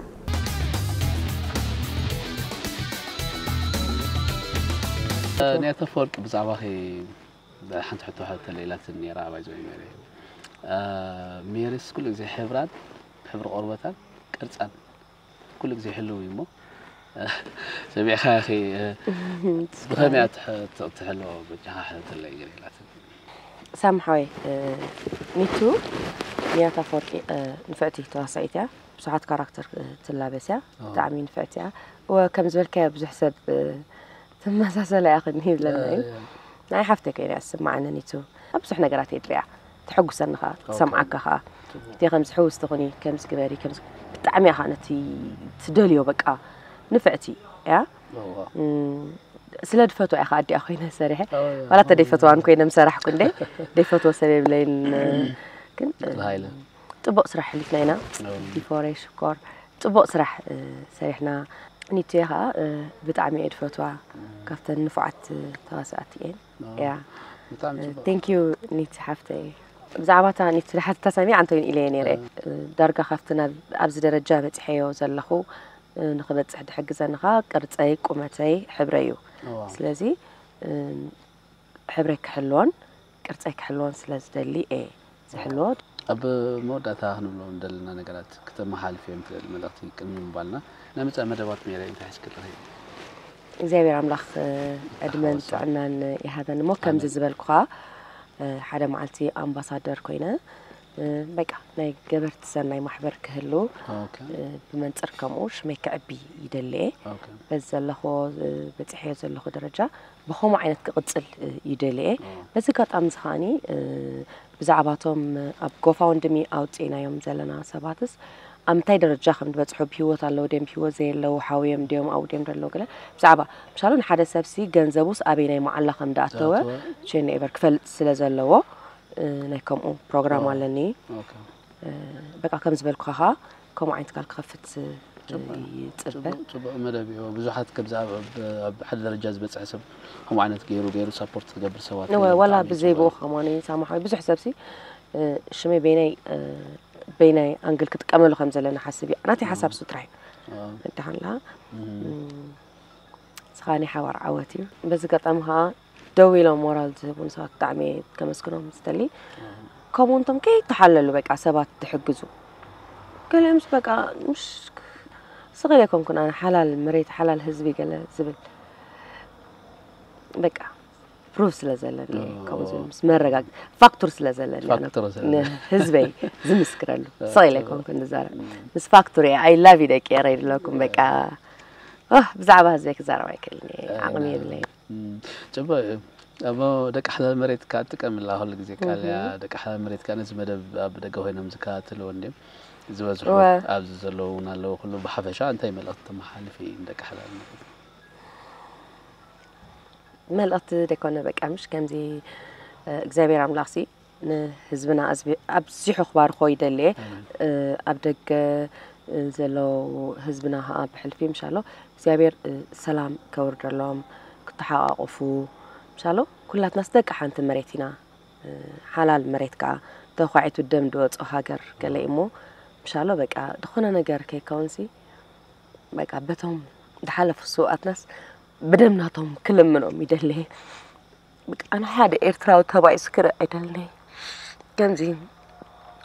S2: ኔቶ ኣፈወርቂ ብዛዕባኺ ሓንቲ ሕቶ ተለኢላትኒ ነይራ ባይ ዘ ሜሪ ሜሪስ ኩሉ ግዜ ሕብራን ሕብሪ ቆርበታን ቅርፃን ኩሉ ግዜ ሕልው እዩ እሞ ሰሚዕካ ኢኺ ብኸመይ እያ ትሕሎ በጃኻ ሕተተለይ ገለ ኢላትኒ ሳም
S1: ሓወይ ሚቱ ንያት ኣፈወርቂ ንፍዕቲ ተዋሳኢት እያ ብዙሓት ካራክተር ትላበስ እያ ብጣዕሚ ንፍዕቲ እያ እወ ከም ዝበልካዮ ብዙሕ ሰብ ትመሳሰላ እያ ክኒ ይብለና እዩ ናይ ሓፍተይ ኮይነ እያ ዝስማዓኒ ኒቱ ኣብ ብዙሕ ነገራት እየ ድሪኣ ተሐጉሰኒ ከኣ ትሰምዓካ ከኣ እቴ ከምዚ ሕውስቲ ኩኒ ከምዚ ግበሪ ከምዚ ብጣዕሚ እያ ከኣ ነቲ ትደልዮ በቃ ንፍዕቲ እያ ስለ ድፈቶ እያ ከኣ ኣዲኣ ኮይነ ሰሪሐ ዋላ እተ ደይፈትዋን ኮይነ ምሰራሕኩ እንደ ደይፈትዎ ሰብ የብለይን ግን
S2: ጥቡቅ ስራሕ
S1: ሕሊፍና ኢና ዲኮሬ ሽኮር ጥቡቅ ስራሕ ሰሪሕና ኒቴ ከኣ ብጣዕሚ እየ ድፈትዋ ካብተን ንፉዓት ተዋሳእቲ እየን እያ ቴንኪዩ ኒቲ ሓፍተይ ብዛዕባ እታ ኒቲ ዝሓትታ ሰሚዓ እንተይን ኢለየ ነይረ ዳርጋ ካብቲ ናብ ኣብዚ ደረጃ በፂሐዮ ዘለኹ ንክበፅሕ ድሕግዘኒ ከዓ ቅርፀይ ቁመተይ ሕብረይ እዩ ስለዚ ሕብረይ ክሕልዎን ቅርፀይ ክሕልዎን ስለ ዝደሊ እየ ዝሕልዎ ዶ? ኣብ
S2: መወዳእታ ክንብሎም ንደለና ነገራት ክተመሓላልፍዮም ትኽእሊ መልእኽቲ ቅድሚ ምባልና ናይ መጻኢ መደባት ሜሪየይ እንታይ ሒዝኪ ኣለኺ? እግዚኣብሔር ኣምላኽ
S1: ዕድመን ጥዕናን ይሃበኒ እሞ ከምዚ ዝበልኩኻ ሓደ መዓልቲ ኣምባሳደር ኮይነ በቃ ናይ ገበርቲ ሰናይ ማሕበር ክህሉ ብመንፅር ከምኡ ሽመይ ክዕቢ ይደሊ እየ በዚ ዘለኹዎ በፂሐዮ ዘለኹ ደረጃ ብኸምኡ ዓይነት ክቕጽል እዩ ደልየ። በዚ ኣጋጣሚ እዚ ከኣ ብዛዕባ እቶም ኣብ ጎፋውንድሚ ኣውጺእናዮም ዘለና ሰባትስ ኣብ ምንታይ ደረጃ ከም ዝበጽሑ ብህይወት ኣለዉ ድዮም ብህይወት ዘየለዉ ሓውዮም ድዮም ኣብኡ ድዮም ዘለዉ ገለ ብዛዕባ ምሳሉ ንሓደ ሰብሲ ገንዘቡስ ኣበየናይ መዓላ ከም ዝኣተወ ቼን ኤቨር ክፈልጥ ስለ ዘለዎ ናይ ከምኡ ፕሮግራም ኣለኒ። በቃ ከም ዝበልኩኻ ከኣ ከምኡ ዓይነት ትካል ክኸፍት ይጽበ። ጽቡቅ መደብ
S2: ኢዩ ብዙሓት ከምዚ ኣብ ሓደ ደረጃ ዝበጽሐ ሰብ ከምኡ ዓይነት ገይሩ ገይሩ ሳፖርት ዝገብር ሰባት እወ ዋላ ብዘይ ብኡ
S1: ከማን ሳማሓዊ ብዙሕ ሰብሲ ሽመይ በይናይ በይናይ ኣንግል ክጥቀመሉ ከም ዘለና ሓስብ እዩ ናተይ ሓሳብ ሱ ጥራሕ እዩ ደሓንላ ስኻ ናይ ሓባር ዓወት እዩ በዚ ገጣሚ ከዓ ደው ኢሎም ሞራል ዝህቡን ሰባት ብጣዕሚ እየ ከመስግኖም ዝደሊ ከምኡ እንቶም ከይተሓለሉ በቃ ሰባት ትሕግዙ ገሊኦምስ በቃ ምሽ ስቕል ኣይኮንኩን ኣነ ሓላል መሬት ሓላል ህዝቢ ገለ ዝብል በቃ ፕሩፍ ስለ ዘለኒ ከምኡ ዝብል ምስ መረጋግ ፋክቱር ስለ ዘለኒ ኣነ ፋክቱር ስለ ዘለኒ። ንህዝበይ ዝምስክረሉ ስቕል ኣይኮንኩን ዝዛረብ ምስ ፋክቱር እየ ኣይ ላቭ ዩ ደቂ ኤረይ ድለኩም በቃ ኦህ፣ ብዛዕባ ህዝበይ ክዛረብ ኣይክእልን እየ ዓቕሚ የብለይን ጽቡቅ
S2: እዩ እሞ ደቂ ሓላል መሬት ከኣ ጥቀምላ ኩሉ ግዜ ቃልያ ደቂ ሓላል መሬት ከኣ ነዚ መደብ ኣብ ደገ ኮይኖም ዝከታተልዎ እንድዮም ዝበዝሑ እወ። ኣብዚ ዘለዉ እውን ኣለዉ ኩሉ ብሓፈሻ እንታይ መልእክቲ ተመሓላልፊ ንደቂ ሓላል መሬት
S1: መልእክቲ ደይኮነ በቃ ምሽ ከምዚ እግዚኣብሔር ኣምላክሲ ንህዝብና ኣብዚሑ ክባርኮ ይደሊየ ኣብ ደገ ዘሎ ህዝብና ከኣ ብሕልፊ ምሻሎ እግዚኣብሔር ሰላም ከውርደሎም ክተሓቃቆፉ ምሻሎ ኩላትናስ ደቂ ሓንቲ መሬት ኢና ሓላል መሬት ከኣ ተኳዒቱ ደም ድወጾ ሃገር ገለ እሞ ምሻሎ በቃ ድኾነ ነገር ከይከውንሲ በቃ በቶም ድሓለፉ ስውኣትናስ ብደም ናቶም ክልምኖም ይደሊየ። ኣነ ሓደ ኤርትራዊ ተባኢሱ ክርኢ ኣይደልን ከምዚ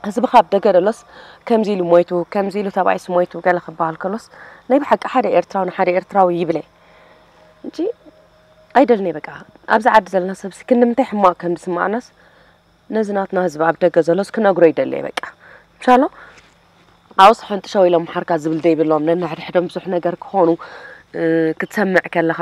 S1: ህዝቢ ካብ ደገ ደሎስ ከምዚ ኢሉ ሞይቱ ከምዚ ኢሉ ተባኢሱ ሞይቱ ገለ ክበሃል ከሎስ ናይ ብሓቂ ሓደ ኤርትራዊ ንሓደ ኤርትራዊ ይብለ እንጂ ኣይደልን በቃ ኣብዚ ዓዲ ዘለና ሰብሲ ክንምንታይ ሕማቕ ከም ዝስማዕናስ ነዚ ናትና ህዝቢ ኣብ ደገ ዘሎስ ክነግሮ ይደሊ በቃ ቻሎ ኣውስ ሕንጥሸው ኢሎም መሓርካ ዝብል ዘይብሎም ነንሕድሕዶም ብዙሕ ነገር ክኾኑ ክትሰምዕ ከለኻ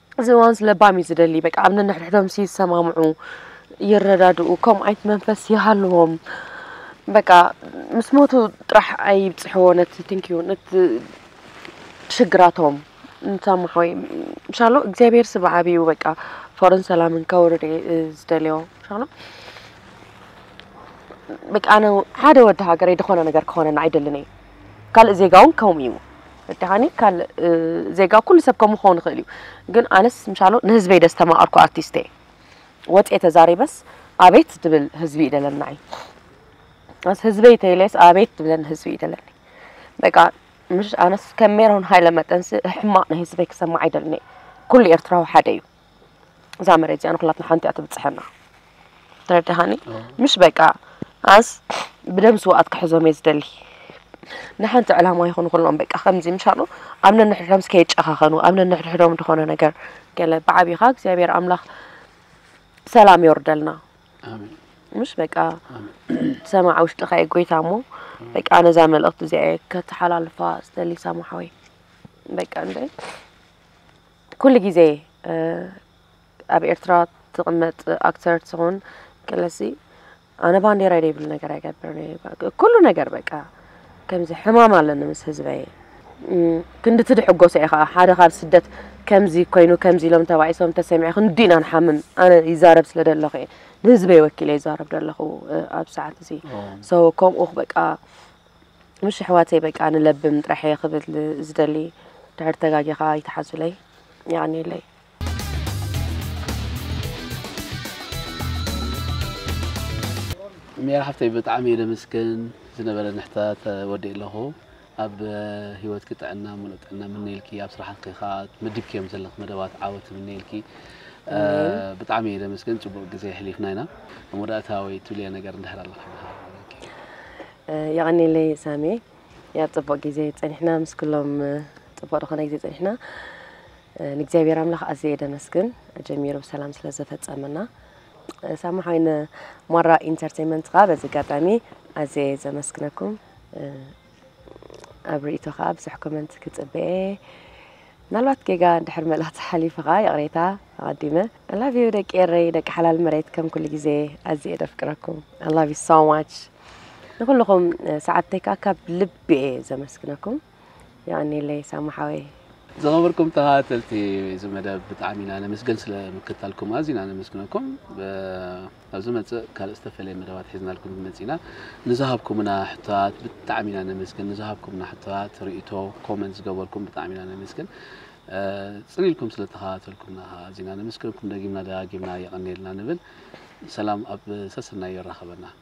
S1: እዚ እዋንስ ለባም እዩ ዝደሊ በቃ ኣብ ነንሕድሕዶም ይሰማምዑ ይረዳድኡ ከምኡ ዓይነት መንፈስ ይሃልዎም በቃ ምስ ሞቱ ጥራሕ ኣይብፅሕዎ ነቲ ትንኪዩ ነቲ ሽግራቶም ንሰማሖ ምሻሎ እግዚኣብሔር ስብዓብ እዩ በቃ ፍቅርን ሰላምን ከውርድ እየ ዝደልዮ ምሻሎ በቃ ኣነ ሓደ ወዲ ሃገረይ ዝኾነ ነገር ክኾነና ኣይደልን እየ ካልእ ዜጋ ውን ከምኡ እዩ ረዲኻኒ ካልእ ዜጋ ኩሉ ሰብ ከምኡ ክኸውን ይኽእል እዩ ግን ኣነስ ምሻሎ ንህዝበይ ደስተማቐርኩ ኣርቲስት እየ ወፅኤ ተዛሪበስ ኣቤት ድብል ህዝቢ እዩ ደለና እዩ ኣስ ህዝበይ ተይለስ ኣቤት ድብለን ህዝቢ እዩ ደለኒ በቃ ምሽ ኣነስ ከም ሜሮን ሃይለ መጠንስ ሕማቕ ናይ ህዝበይ ክሰማዕ ኣይደልኒ ኩሉ ኤርትራዊ ሓደ እዩ እዛ መሬት እዚኣ ንኩላትና ሓንቲ እያ ትብጽሐና ተረዳሃኒ ምሽ በቃ ኣንስ ብደም ስውኣት ክሕዞም እየ ዝደሊ ንሓንቲ ዕላማ ይኹኑ ኩሎም በቃ ከምዚ ምሻሉ ኣብ ነንሕድሕዶም እስከ የጨኻኸኑ ኣብ ነንሕድሕዶም ዝኾነ ነገር ገለ ብዓብኻ እግዚኣብሔር ኣምላኽ ሰላም የወርደልና
S2: ምሽ በቃ
S1: ሰማዕ ውሽጥኻ እየ ጎይታ እሞ በቃ ነዛ መልእኽቲ እዚኣ ከተሓላልፋ ዝደሊ ሰማሓወይ በቃ እንደ ኩሉ ግዜ ኣብ ኤርትራ ትቅመጥ ኣክተር ትኹን ቀለሲ ኣነ ባንዴራይ ደይብሉ ነገር ኣይገብርን እየ ኩሉ ነገር በቃ ከምዚ ሕማም ኣለኒ ምስ ህዝበይ ክንዲ ትድሕጎሶ እየ ከዓ ሓደ ካብ ስደት ከምዚ ኮይኑ ከምዚ ኢሎም ተባኢሶም ተሰሚዐ ክንዲ ኢና ንሓምም ኣነ ይዛረብ ስለ ደለኹ እየ ንህዝበይ ወኪለ ይዛረብ ደለኹ ኣብ ሰዓት እዚ ከምኡ በቃ ምሽ ኣሕዋተይ በቃ ንለብም ጥራሕ እየ ክብል ዝደሊ ድሕር ተጋጊ ከ ይትሓዙለይ የቀኒየለይ።
S2: ሚያ ሓፍተይ ብጣዕሚ እየ ደምስግን ዝነበረኒ ሕታት ወዲእ ኣለኹ ኣብ ሂወትኪ ጥዕና ሙሉእ ጥዕና ምነየልኪ ኣብ ስራሕትኪ ከዓ መዲብክዮም ዘለኪ መደባት ዓወት ምነየልኪ ብጣዕሚ እየ ደምስግን ፅቡቅ ግዜ ኣሕሊፍና ኢና ኣብ መወዳእታ ወይ ትብልዮ ነገር እንድሕር ኣለካ
S1: የቐኔለይ ሳሚ ያብ ጽቡቕ ግዜ ጸኒሕና ምስ ኩሎም ጽቡቕ ዝኾነ ግዜ ጸኒሕና ንእግዚኣብሔር ኣምላኽ ኣዝየ ደመስግን ጀሚሩ ብሰላም ስለ ዘፈጸመና ሳሚ ሓይ ንሞራ ኢንተርቴንመንት ከኣ በዚ ኣጋጣሚ ኣዝየ ዘመስግነኩም ኣብ ርእቶ ከኣ ብዙሕ ኮመንት ክጽበኤ ምናልባት ጌጋ ድሕር መልእኽቲ ሓሊፉ ከኣ ይቕሬታ ኣቐዲመ ኣላቭዩ ደቂ ኤረይ ደቂ ሓላል መሬት ከም ኩሉ ግዜ ኣዝየ ደፍቅረኩም ኣላቭዩ ሶ ማች ንኹልኹም ሰዓብተይ ከዓ ካብ ልቢ እየ ዘመስግነኩም የቀኒለይ ሳሙ ሓወይ ዝኸበርኩም
S2: ተኸታተልቲ እዚ መደብ ብጣዕሚ ኢና ነመስገን ስለ ምክታልኩም ኣዝና ነመስግነኩም ኣብ ዝመፅእ ካልእ ዝተፈለየ መደባት ሒዝናልኩም ክንመፅእ ኢና ንዝሃብኩምና ሕቶታት ብጣዕሚ ኢና ነመስገን ንዝሃብኩምና ሕቶታት ርእቶ ኮመንት ዝገበርኩም ብጣዕሚ ኢና ነመስገን ፅን ኢልኩም ስለ ተኸታተልኩምና ከዓ ኣዝና ነመስግነኩም ደጊምና ደጋጊምና የቐኒየልና ንብል ሰላም ኣብ ሰሰናዩ የራኸበና